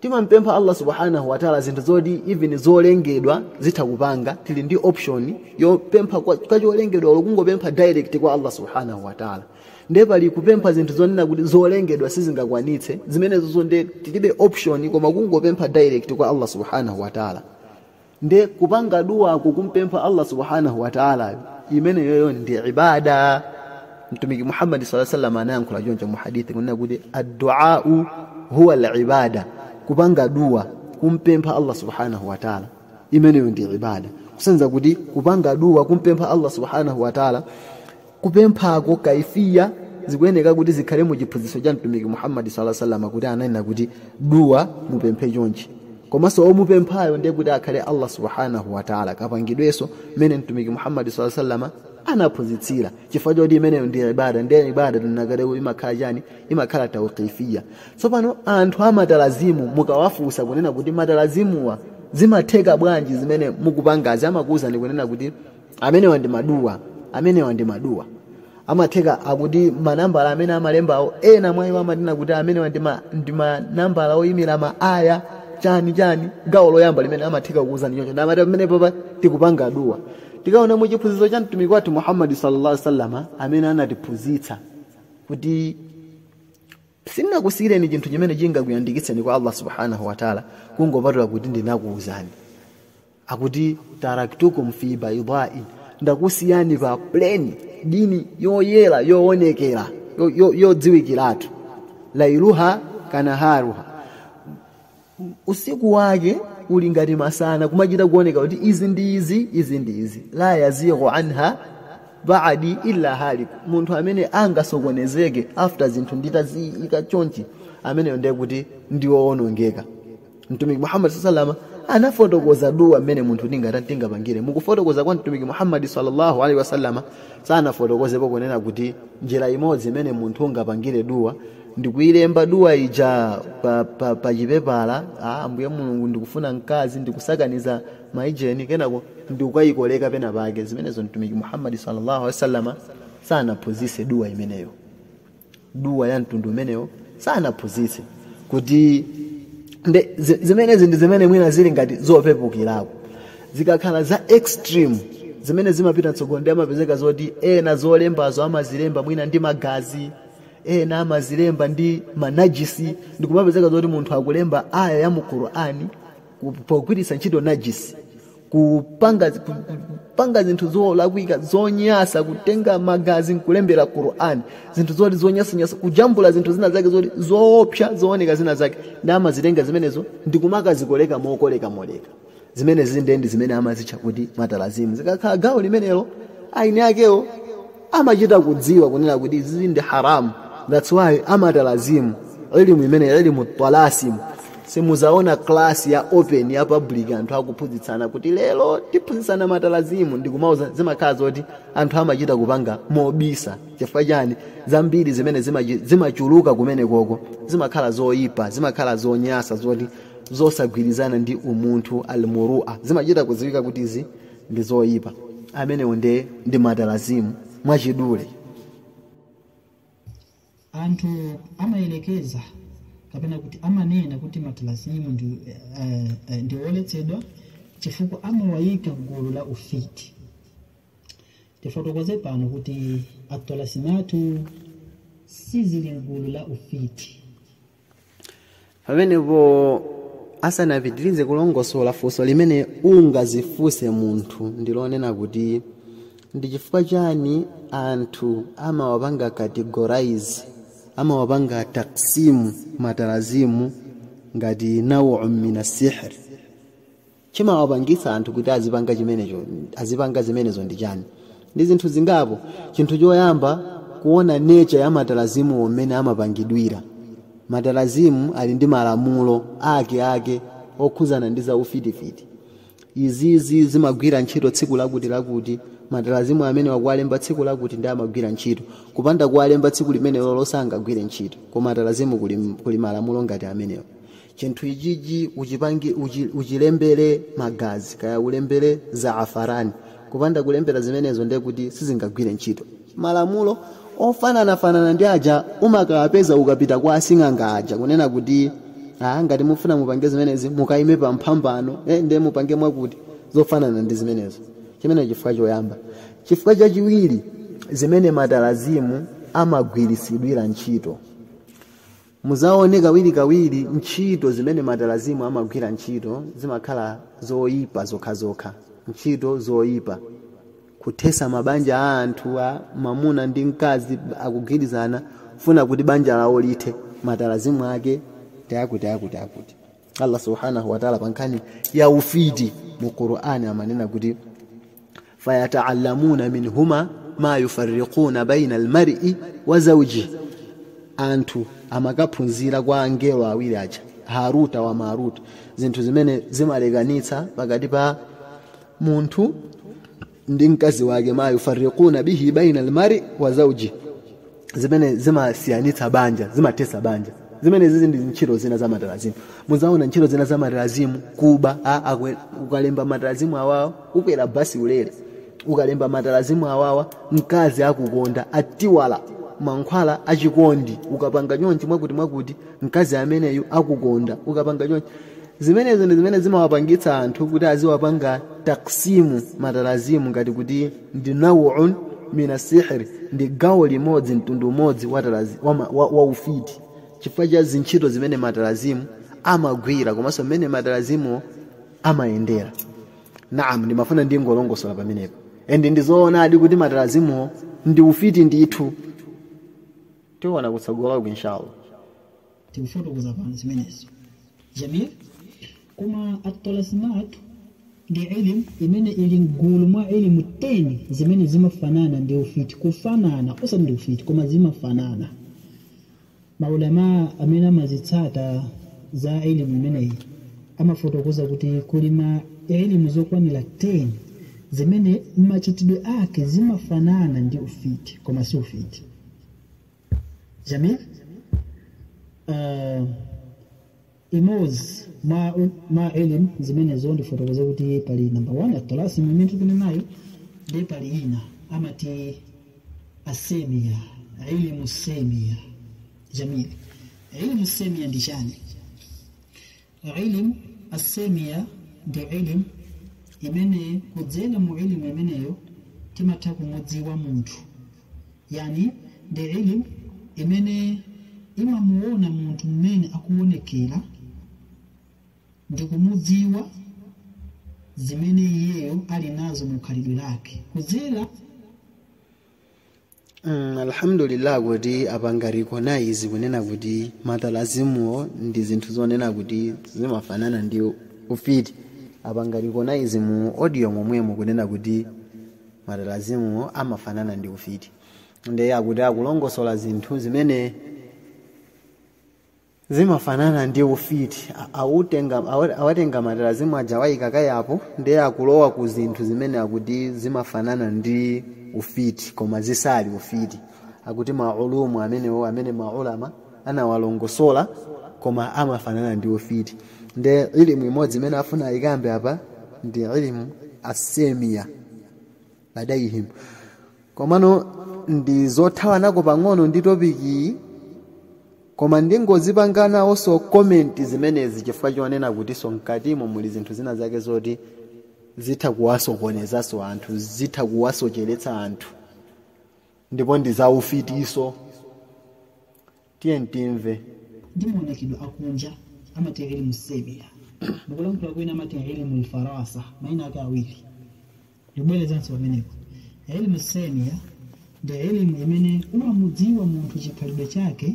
timampempha allah subhanahu wataala zinthu zoti even zolengedwa zitha kupanga tili ndi option yopempha kwa kwa cholengedwa olo kungopempha direct kwa allah subhanahu wataala nde pali kupempha zinthu zonena kuti zolengedwa sizingakwanitse zimenezozo nde tilibe option koma kungopempha direct kwa allah subhanahu wataala nde kupanga duwako kumpempha allah subhanahu wataalayo imeneyoyo ndi ibada mtumiki muhammadi salla sallam anayankhula choncho mu hadithi kunena kuti adduau huwa alibada kupanga duwa kumpempha allah subhanahu wataala imeneyo ndi ibada kusenza kuti kupanga duwa kumpempha allah subhanahu wataala kupemphako kaifiya zikuyeneka kuti zikhale mu chiphunzitso cha mtumiki muhammadi sala salama kuti ananena kuti duwa mupemphe chonchi komanso omupemphayo ndiye kuti akhale allah subhanahu wataala kapangidwenso mmene mtumiki muhammadi sala salama anaphunzitsira chifukwa choti imeneyo ndi ibada ndiye ibada tinanena kuti imakhala chani imakhala tauqifiya tsopano anthu amatalazimu mukawafunsa kunena kuti matalazimuwa zimatheka bwanji zimene mukupangazi amakuwuzani kunena kuti amenewa ndi maduwa amenewa ndi maduwa amatheka kuti manambala amene amalembawo ena mwa iwo amanena kuti amenewa ndi ma- ndi manambala oyimira ma aya chani chani gawo loyamba limene amatheka kuuzani choncho ndi amati pamenepapa tikupanga duwa tikaona mu chiphunzitso cha mtumiki wathu muhammadi sallallahu alaihi wasallama amene anatiphunzitsa kuti sindinakusiyireni chinthu chimene chingakuyandikitseni kwa allah subhanahu wataala kungopatula kuti ndinakuuzani akuti taraktukum fi baidai ndakusiyani pa pleni dini yoyera yoonekera yo- yo- yodziwikiratu lailuha kanaharuha usiku wake uli ngati masana kumachita kuoneka kuti izi ndi izi izi ndi izi la yazighu anha baadi illa halik munthu amene angasokonezeke after zinthu nditaziyika chonchi ameneyo ndiye kuti ndiwoonongeka mtumiki muhammad salama anafotokoza duwa mmene munthu tingat- tingapangire mukufotokoza kwa mtumiki muhammadi sallallahu alaihi wasallama sanafotokozepo kunena kuti njira imodzi imene munthu ungapangire duwa ndikuyilemba duwa ija pa, pa, pa chipepala ah, ambuye mulungu ndikufuna mkazi ndikusakaniza maijeni kenako ndikukayikoleka pena pake zimenezo mtumiki muhammadi sallallahu alaihi wasallama sanaphunzise duwa imeneyo duwa ya mtundu umenewo sanaphunzitse kuti nde zi- zimenezi ndi zimene mwina zili ngati zopepukirako zikakhala za extreme zimene zimapita mtsogolo nde amapezeka zoti ena zolembazo amazilemba mwina ndi magazi ena amazilemba ndi manajisi ndikumapezeka zoti munthu akulemba aya ya mu qur'ani ku- pogwiritsa ntchito najisi kupanga, ku- ku- kupanga zinthu zolakwika zonyasa kutenga magazi nkulembera qurani zinthu zoti zonyasanyasa kujambula zinthu zina zake zoti zoopsa zooneka zina zake nde amazitenga zimenezo ndikumakazikoleka mokolekamoleka zimenezi nde ndi zimene amazitcha kuti matalazimu zikakhala gawo limenelo eni akewo amachita kudziwa kunena kuti izizi ndi haramu that's why amatalazimu ilimu imene ilimu twalasimu simuzaona klasi ya open ya public anthu akuphunzitsana kuti lero tiphunzitsana matalazimu ndikumauza zimakhala zoti anthu amachita kupanga mobisa chifukwa chani zambiri zimene zimachi- zimachuluka kumenekoko zimakhala zoyipa zimakhala zonyasa zoti zosagwirizana ndi umunthu almurua zimachita kudziwika kuti izi ndi zoyipa amenewo ndi matalazimu mwachidule anthu amayelekeza kapena kuti amanena kuti matalazimu ndi, eh, eh, ndi oletsedwa chifukwa amawayika mgulu la ufiti tifotokoze pano kuti atolasimatu sizili mgulu la ufiti pamenepo asanapitirize kulongosola funso limene ungazifunse munthu ndilonena kuti ndi chifukwa chani anthu amawapanga categorize amawapanga taksimu matalazimu ngati nawu mina sihr chimawapangitsa anthu kuti azipanga chimenecho azipanga zimenezo ndi chani ndi zinthu zingapo chinthu choyamba kuona nature ya matalazimuwo mmene amapangidwira matalazimu ali ndi malamulo ake ake okhuzana ndi za ufitifiti izizi zimagwira ntchito tsiku lakuti lakuti matalazimu amenewa kuwalemba tsiku lakuti ndi amagwira ntchito kupanda kuwalemba tsiku limenelolo sangagwire ntchito koma matalazimu kuli, kuli malamulo ngati amenewo chinthu ichichi uchipange uchi, uchilembere magazi kaya ulembere zaafarani kupanda kulembera zimenezo ndiye kuti sizingagwire ntchito malamulo ofananafanana ndi aja umakawapeza ukapita kwa asing'anga aja kunena kuti ah, ngati mufuna mupange zimenezi mukayime pa mphambano eh, ndiye mupange mwakuti zofanana ndi zimenezo chimene chifukwa choyamba chifukwa chachiwiri zimene matalazimu amagwiritsidwira ntchito Muzaone kawirikawiri ntchito zimene matalazimu amagwira ntchito zimakhala zoipa zokhazokha ntchito zoipa kuthesa mabanja a anthu a mamuna ndi mkazi akugwirizana kufuna kuti banja lawo lithe matalazimu ake ndi akuti akuti akuti. Allah subhanahu wa ta'ala pankhani ya ufiti mu Qur'ani amanena kuti fayata'allamuna minhuma ma yufarriquna baina almar'i wa zawji anthu amakaphunzira kwa angelo awiri aja haruta wa maruta zinthu zimene zimalekanitsa pakati pa munthu ndi mkazi wake ma yufarriquna bihi baina almari wa zawji zimene zimasiyanitsa banja zimathetsa banja zimene zizi ndi ntchito zina za matalazimu mudzaona ntchito zina za matalazimu kuba a- akwe- ukalemba matalazimu awawa ukwera basi ulere ukalemba matalazimu awawa mkazi akukonda ati awa mankhwala achikondi ukapanga chonchi mwakuti mwakuti mkazi ameneyu akukonda ukapanga chonchi zimenezo ndi zimene zimawapangitsa anthu kuti aziwapanga taksimu matalazimu ngati kuti ndi nauun minas sihri ndi gawo limodzi mtundu umodzi wa, talazi, wa, ma- wa, wa ufiti chifukwa cha zintchito zimene matalazimu amagwira komanso mmene matalazimuwo amayendera naam ndimafuna ndingolongosola pamenepo and ndi zoonadi kuti matalazimuwo ndi ufiti ndithu tiona kutsogoloku inshallah tikufotokoza pano zimenezo jamil koma attalasimu ndi ilimu imene ili mgulu mwa ilimu 10 zimene zimafanana ndi ufiti kufanana osati ndi ufiti koma zimafanana maulama amene amazitsata za ilimu imeneyi amafotokoza kuti kuli ma ilimu zokwanira 10 zimene machitidwe ake zimafanana ndi ufiti koma si ufiti jamil uh, imodzi mwa mwa ilimu zimenezo ndifotokoze kuti pali namba 1 attalasim imene tili nayo nde pali ina amati assemia ilimu semia jamil ilimu semia ndi chani ilimu assemia ndi ilimu imene kudzera mu ilimu imeneyo timatha kumudziwa munthu yani ndi ilimu imene imamuona munthu mmene akuonekera ndi kumudziwa zimene iyeyo ali nazo mu khalidwe lake kudzera Mm, alhamdulillah kuti apanga recognize kunena kuti matalazimuwo ndi zinthu zonena kuti zimafanana ndi ufiti apanga recognize mu audio momwemo kunena kuti matalazimuwo amafanana ndi ufiti ndiye akuti akulongosola zinthu zimene zimafanana ndi ufiti A- autenga awa- awatenga matalazimu aja awayika kaye apo ndiye akulowa ku zinthu zimene akuti zimafanana ndi ufiti koma zisali ufiti akuti mailimu amenewo amene maulama anawalongosola koma amafanana ndi ufiti ndiye ilimu imodzi imene afuna ayikambe apa ndi ilimu assemia ladaihim komano ndi zothawanako pang'ono ndi topikiyi koma ndingozipanga nawonso komenti zimenezi chifukwa chonena kutinso mkatimo muli zinthu zina zake zoti zitha kuwasokonezanso anthu zitha kuwasocheretsa anthu ndipo ndi zaufitinso Tiyeni timve. Ndi maonekedwe akunja amati ilmu semia. Mu kulankhula kwina amati ilmu alfirasa. Maina ake awiri. Ndibwerezanso pamenepo. Ilmu semia ndi ilmu imene umamudziwa munthu chikhalidwe chake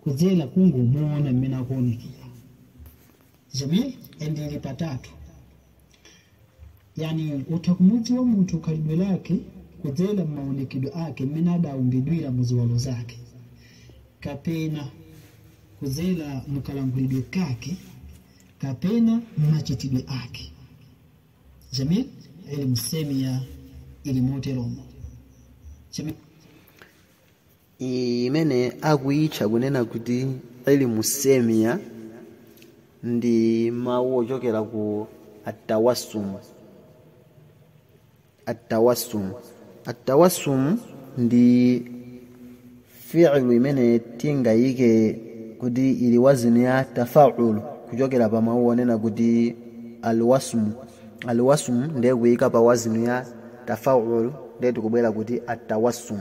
kudzera mu kungomuona mmene akuonekera. jamil ndi ili patatu yani utha kumudziwa munthu khalidwe lake kudzera m'maonekedwe ake mmene adaumbidwira mu ziwalo zake kapena kudzera mu kalankhulidwe kake kapena mmachitidwe ake jamil ilmu semia ili moteromo jamil iyi imene akuyitcha kunena kuti ilmu semia ndi mawu ochokera ku atawasum atawasum atawasum ndi fi'lu imene tingayike kuti ili wazinu ya tafaulu kuchokera pa mawu onena kuti alwasmu alwasmu ndiye kuyika pa wazinu ya tafaulu ndiye tikubwera kuti atawasum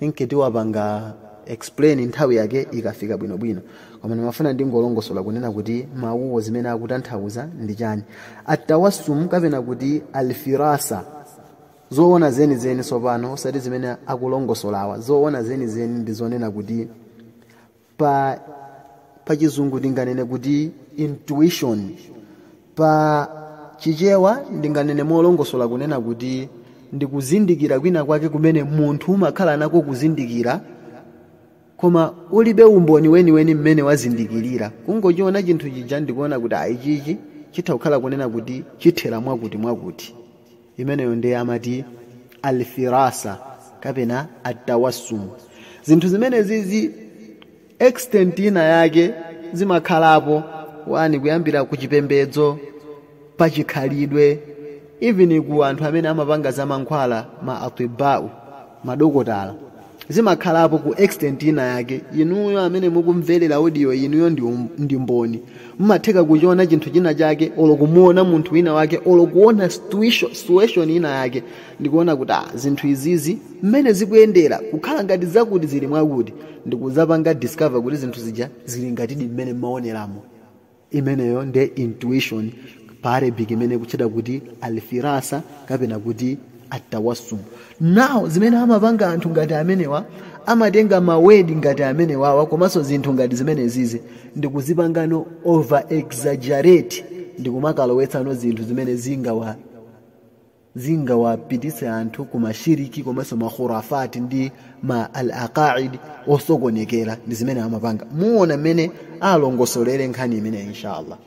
inki tiwapanga explain nthawi yake ikafika bwinobwino koma ndimafuna ndingolongosola kunena kuti mawuwo zimene akutanthauza ndi chani atawasum kapena kuti alfirasa zoona zenizeni tsopano osati zimene akulongosolawa zoona zenizeni ndi zonena kuti pa pa chizungu ndinganene kuti intuition pa chichewa ndinganene molongosola kunena kuti ndi kuzindikira kwina kwake kumene munthu umakhala nako kuzindikira koma ulibe umboni weniweni mmene wazindikirira kungochiona chinthu chija ndikuona kuti ayi chichi chitha kukhala kunena kuti chithera mwakuti mwakuti imeneyo ndiye amati alfirasa kapena atawassum zinthu zimenezi ku extent ina yake zimakhalapo wani kuyambira ku chipembedzo pa chikhalidwe even ku anthu amene amapanga za mankhwala ma atibau madokotala zimakhalapo ku extent ina yake inuyo amene mukumverera audio iyiyi ndi, um, ndi mboni mumatheka kuchiona chinthu china chake olo kumuona munthu wina wake olo kuona situation situation ina yake ndikuona kuti ah, zinthu izizi mmene zikuyendera kukhala ngati zakuti zili mwakuti ndikuzapanga discover kuti zinthu zija zili ngatidi mmene mumaoneramo imeneyo ndi intuition pa arabic imene ikutchedwa kuti alfirasa kapena kuti atawassum now zimene amapanga anthu ngati amenewa amatenga mawedi ngati amenewawa komanso zinthu ngati zimenezizi ndikuzipangano over exaggerate ndikumakalowetsano zinthu zimene zingawa zingawapititse anthu ku mashiriki komanso makhurafati ndi ma al aqaid osokonekera ndi zimene amapanga muona mmene alongosolere nkhani imeneyi inshallah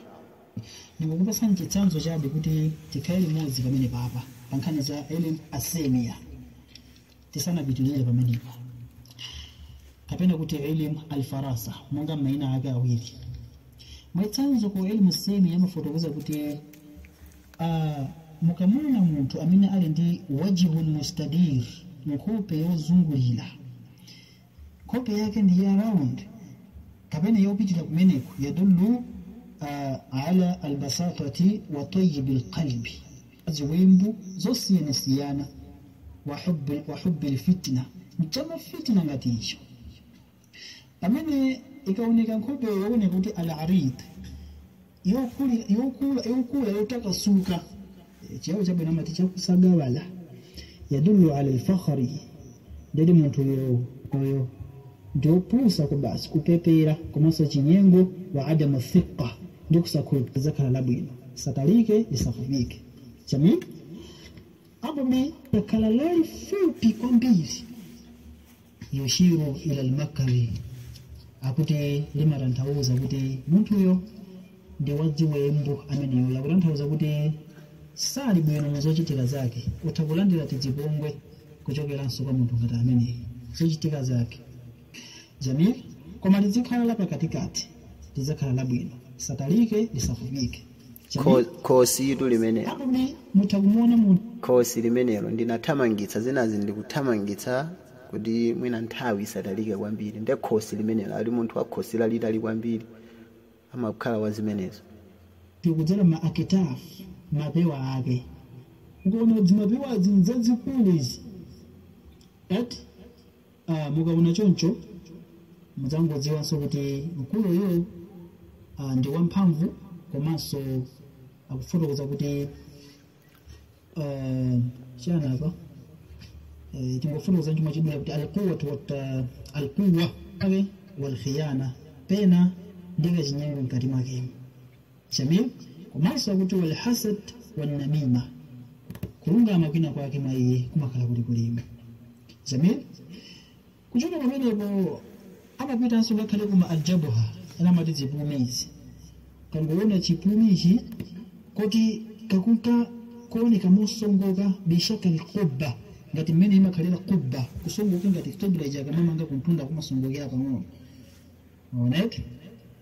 ndikukupatsani chitsanzo chabe kuti tikhale limodzi pamenepapa pa nkhani za ilmu assimiya tisanapitilize pamenepo kapena kuti ilmu alfirasa monga maina ake awiri mwachitsanzo ku ilmu semi amafotokoza kuti uh, mukamuona munthu amene ali ndi wajihun mustadir nkhope yozungulira nkhope yake ndi ya round kapena yopitira kumeneko yadullu uh, ala ala lbasatati wa tayibu lqalbi ziwembu zosiyanasiyana wa hubbi- wa hubbi lfitna mchama fitna ngati icho pamene ikaoneka nkhope yooneka kuti al arid yokuli- yokula yokula yotakasuka Eh, chiyawo chabwino amati chakusagawala yadullu ala lfakhri nde kuti munthu uyo uyo ndiopusa kwa basi kupepera komanso ya chinyengo wa adamu thiqa ndi kusakhulupirira lizakhala labwino lisatalike lisafupike chami apo likakhala lalifupi kwambiri yushiru ila almakri akuti limatanthauza kuti munthuyo ndi wa ziwembu ameneyo akutanthauza kuti sali bwino mu zochitika zake utha kulandira zipongwe kuchokeranso kwa munthu ngati ameneyi zochitika zake jamil koma lizikhala lapakatikati lizakhala labwino lisatalike lisafupike Kho- khosi itu limenelo Hapo mna mta kumuona mu khosi limenelo ndinathamangitsa zinazi ndikuthamangitsa kuti mwina nthawi isatalike kwambiri nde khosi limenelo ati munthu wa khosi lalitali kwambiri amakhala wa zimenezo tikudzera ma aktaf mapewa ake ukaona dzimapewazi nzazikulu izi ati Ah, mukaona choncho mudzangodziwanso kuti mkulu uyu ah, ndi wamphamvu komanso akufotokoza kuti ah, chani apa Eh, tingofotokoza chomwe chidula kuti alquwatu wat- alquwa aw walkhiyana pena ndi kachinyengo mkati mwakemo Jamil komanso kuti wal hasad wan namima kulungama kwina kwake mwa iye kumakhala kuli kulima Jamil kuchoka pamenepo amapitanso ngakhale kuma aljabuha ena amati zipumi izi kangoona chipumi ichi koti kakunka kuoneka mosongoka bishaka lqubba ngati mmene imakhalira qubba kusongoka ngati qibla ija akamamanga kuntunda kumasongokera pang'ono onet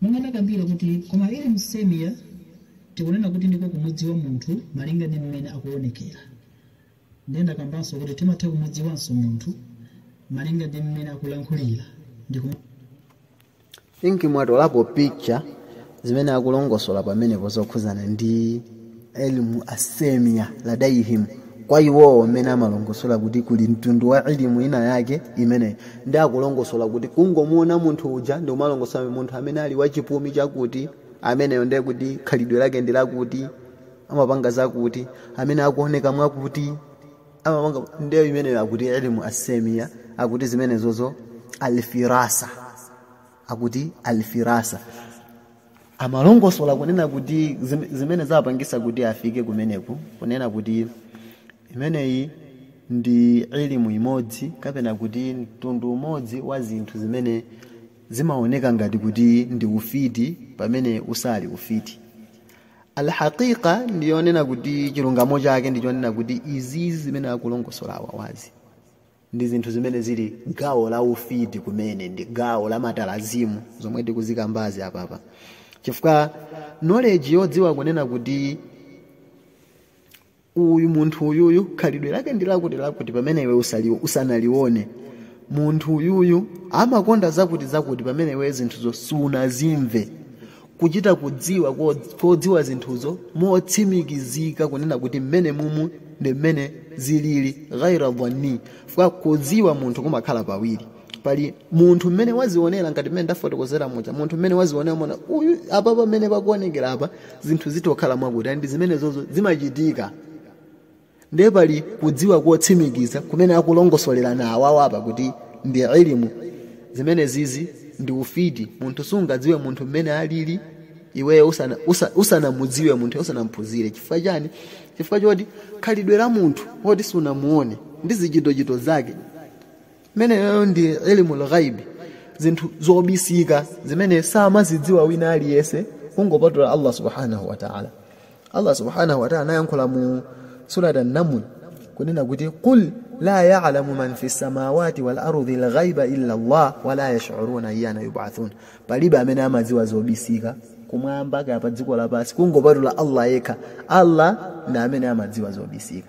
Monga ndakambila kuti koma ilmu assemia tikunena kuti ndiko kumudziwa munthu malinga ndi mmene akuonekela. Ndiye ndakambanso kuti timatha kumudziwanso munthu malinga ndi mmene akulankhulila ndi kum. think mwatolapo picture zimene akulongosola pamenepo zokhuzana ndi. ilmu assemia ladaihim kwa iwowo amene amalongosola kuti kuli mtundu wa ilimu ina yake imene ndi akulongosola kuti kungomuona munthu uja ndikumalongosola munthu amene ali wachipumi chakuti ameneyo ndiye kuti khalidwe lake ndi lakuti amapanga zakuti amene akuoneka mwakuti amapanga ndiyo imeneyo akuti ilimu assemia akuti zimenezozo alfirasa akuti alfirasa amalongosola kunena kuti zim- zimene zapangisa kuti afike kumeneku kunena kuti imeneyi ndi ilimu imodzi kapena kuti mtundu umodzi wa zinthu zimene zimaoneka ngati kuti ndi ufiti pamene usali ufiti alhaqiqa ndiyonena kuti chilungamo chake ndichonena kuti izizi zimene akulongosola awawazi ndi zinthu zimene zili gawo la ufiti kumene ndi gawo la matalasimu zomwe tikuzikambazi apapa chifukwa knowledge yodziwa kunena kuti uyu munthu uyuyu khalidwe lake ndi lakuti lakuti pamene iwe usali, usanalione munthu uyuyu amakonda zakuti zakuti pamene iwe zinthuzo sunazimve kuchita kudziwa ko- kodziwa zinthuzo motsimikizika kunena kuti mmene mumu ndi mmene zilili ghaira dhanni fwa kudziwa munthu kumakhala pawiri pali munthu mmene wazionera ngati mmene ndafotokozera muja munthu mmene wazionera wona uyu apa pamene pakuonekera apa zinthu zitokhala mwakuti ndi zimenezozo zimachitika ndiye pali kudziwa kotsimikiza kumene akulongosola awawa apa kuti ndi ilimu zimene zizi ndi ufiti munthu sungadziwe munthu mmene alili iweyo usanamudziwe usa, munthu usanamphunzire chifukwa chani chifukwa choti khalidwe la munthu woti sunamuone ndi zichitochito zake imeneyo ndi ilimu lghaibi zinthu zobisika zimene samazidziwa wina aliyense kungopatula allah subhanahu wataala allah subhanahu wataala anayankhula mu surat annamul kunena kuti qul la yalamu man fi samawati wal ardi lghaiba illa allah wala yashuruna ayyana yubathun palibe amene amadziwa zobisika kumwamba kaya pa dziko lapansi kungopatula allah yekha allah ndi amene amadziwa zobisika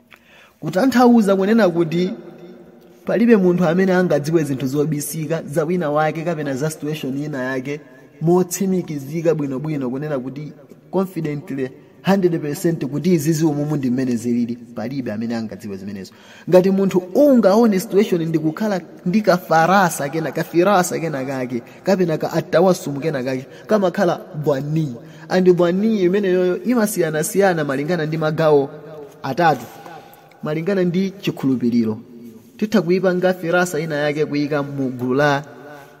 kutanthauza kunena kuti palibe munthu amene angadziwe zinthu zobisika za wina wake kapena za situation ina yake motsimikizika bwinobwino kunena kuti confidently 100% kuti izizi umumu ndi mmene zilili palibe amene angadziwe zimenezo ngati munthu ungaone situation ndikukhala ndi kafarasa kena kafirasa kena kake kapena ka atawasumu kena kake kamakhala bwanii andi bwanii imeneyoyo imasiyanasiyana malingana ndi magawo atatu malingana ndi chikhulupiriro titha kuyipanga firasa ina yake kuyika mu gulu la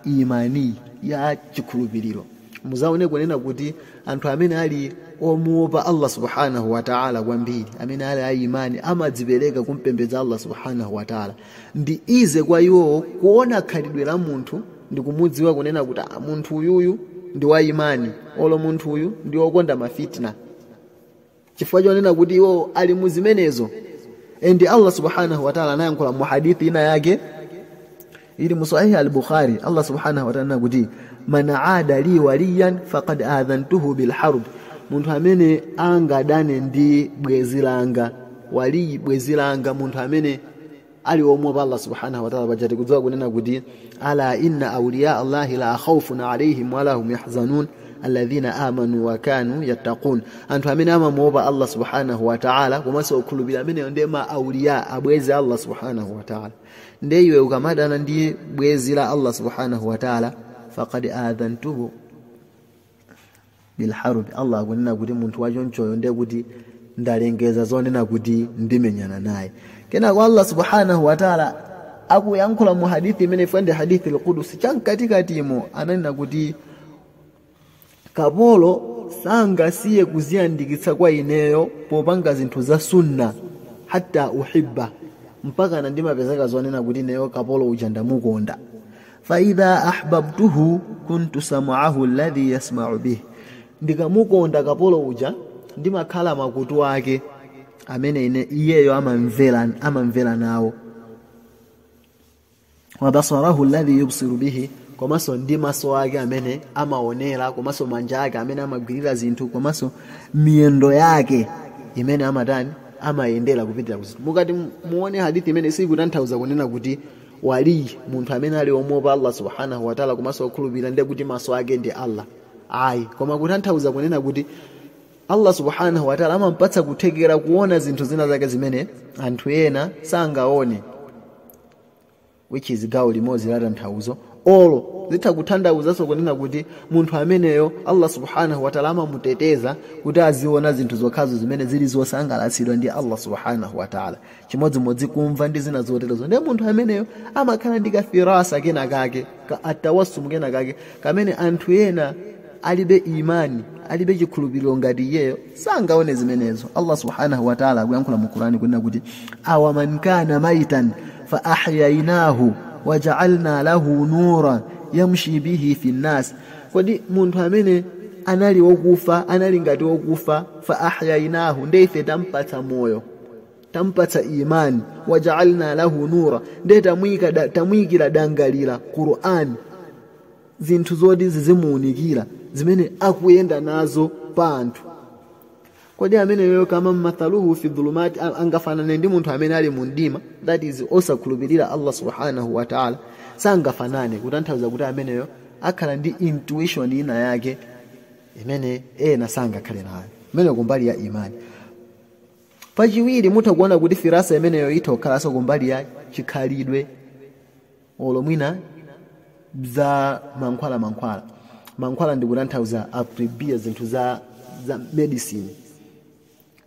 imani ya chikhulupiriro muzaone kunena kuti anthu amene ali omuopa allah subhanahu wataala kwambiri amene ali a imani amadzipereka kumpembedza allah subhanahu wataala ndi easy kwa iwowo kuona khalidwe la munthu ndi kumudziwa kunena kuti "Ah, munthu uyuyu ndi wa imani olo munthu uyu ndi wokonda mafitna chifukwa chonena kuti iwo ali mu zimenezo and allah subhanahu wataala anayankhula mu hadithi ina yake ili mu sahihi al-bukhari allah subhanahu wataala anena kuti man aada li waliyan faqad adhantuhu bilharb munthu amene angadane ndi bwenzi langa waliyi bwenzi langa munthu amene ali omwe pa Allah subhanahu wa ta'ala bajati kudziwa kunena kuti ala inna awliya Allah la khawfun alayhim wa lahum yahzanun alladhina amanu wa kanu yattaqun anthu amene amamuopa Allah subhanahu wa ta'ala komanso okhulupirira amene ndiye ma awliya abwezi Allah subhanahu wa ta'ala ndiye iwe ukamadana ndiye bwezi la Allah subhanahu wa ta'ala faqad adhantuhu bilharubi allah akunena kuti munthu wachonchoyo ndiye kuti ndalengeza zonena kuti ndimenyana naye kenako allah subhanahu wataala akuyankhula mu hadithi imene ifeyo ndi hadithi lkudusi chamkatikatimo ananena kuti kapolo sangasiye kuziyandikitsa kwa ineyo popanga zinthu za sunna hatta uhibbahu mpaka na ndimapezeka zonena kuti ineyo kapolo uja ndamukonda faidha ahbabtuhu kuntu sam'ahu alladhi yasma'u bih ndikamukonda kapolo uja ndimakhala makutu ake amene iyeyo amamvera amamvera nawo wa basarahu alladhi yubsiru bihi komanso ndi maso ake amene amaonera komanso manja ake amene amagwirira zinthu komanso miyendo yake imene amatani amayendera kupitira kuzintu mukati muone hadithi imene sikutanthauza kunena kuti wali munthu amene ali omuopa allah subhanahu wataala komanso okhulupirira ndiye kuti maso ake ndi allah ayi koma kutanthauza kunena kuti allah subhanahu wataala amampatsa kuthekera kuona zinthu zina zake zimene anthu ena sangaone which is gawo limodzi la tanthauzo olo zitha kutanthauzanso kunena kuti munthu ameneyo allah subhanahu wataala amamuteteza kuti aziona zinthu zokhazo zimene zili zosangalatsidwa ndi allah subhanahu wataala chimodzimodzi kumva ndi zina zoterozo ndiye munthu ameneyo amakhala ndi kafirasa kena kake ka tawasumu kena kake kamene anthu ena alibe imani alibe chikhulupiriro ngati iyeyo sangaone zimenezo allah subhanahu wataala akuyankhula mu qurani kunena kuti awa man kana maitan fa ahyainahu wajaalna lahu nura yamshi bihi fi nnas kodi munthu amene anali wokufa anali ngati wokufa fa ahyainahu ndiye ife tampatsa moyo tampatsa imani wajaalna lahu nura nde tamuika da, tamuikira dangalira qur'an zinthu zoti zizimuunikira zimene akuyenda nazo pa anthu kodi ameneyo kama mathaluhu fi dhulumati angafanane ndi munthu amene ali mu mdima that is osakhulupirira allah subhanahu wa taala sangafanane kutanthauza kuti ameneyo akhala ndi intuition ina yake imene ena sangakhale nayo imeneyo kumbali ya imani pachiwiri mutha kuona kuti firasa imeneyo itha kukhalanso kumbali ya chikhalidwe olo mwina za mankhwala mankhwala mankhwala ndi kutanthauza a tibbiya zinthu za, za medicine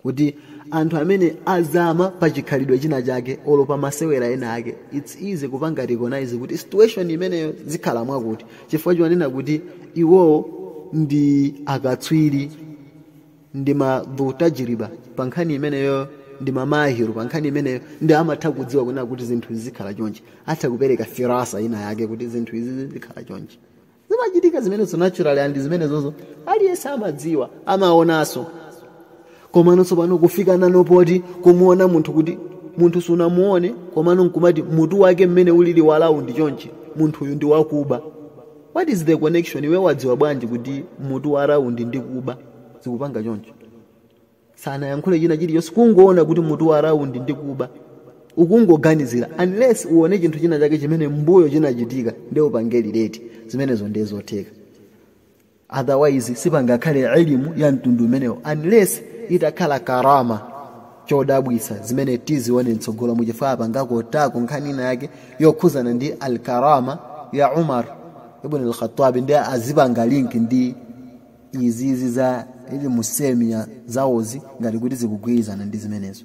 kuti anthu amene azama pa chikhalidwe china chake olo pa masewera ena ake its easy kupanga recognize kuti situation imeneyo zikhala mwakuti chifukwa chonena kuti iwowo ndi akatswiri ndi ma dhutajiriba pa nkhani imeneyo ndi mamahiru pa nkhani imeneyo nde amatha kudziwa kunena kuti zinthu izi zikhala chonchi atha kupereka firasa ina yake kuti zinthu izi zikhala chonchi zimachitika zimenezo naturally and zimenezozo aliyense amadziwa amaonanso komano tsopano kufika nazo poti kumuona munthu kuti munthu sunamuone komano nkumati mutu wake mmene ulili wa round chonchi munthuyu ndi wakuba What is the connection? Iwe wadziwa bwanji kuti mutu wa round ndi wakuba zikupanga choncho? Sanayankhule china chilichonse kungoona kuti mutu wa round ndi wakuba ukungoganizira unless uone chinthu china chake chimene mbuyo chinachitika nde upange relate zimenezo ndiye zotheka otherwise sipangakhale elimu ya mtundu umenewo unless itakhala karama chodabwitsa zimene tizione mtsogolomu chifukwa apanga quote-ko nkhani ina yake yokhuzana ndi al karama ya umar ibn al-khattabi nde azipanga link ndi izizi za ilmu semiya zawozi ngati kuti zikugwirizana ndi zimenezo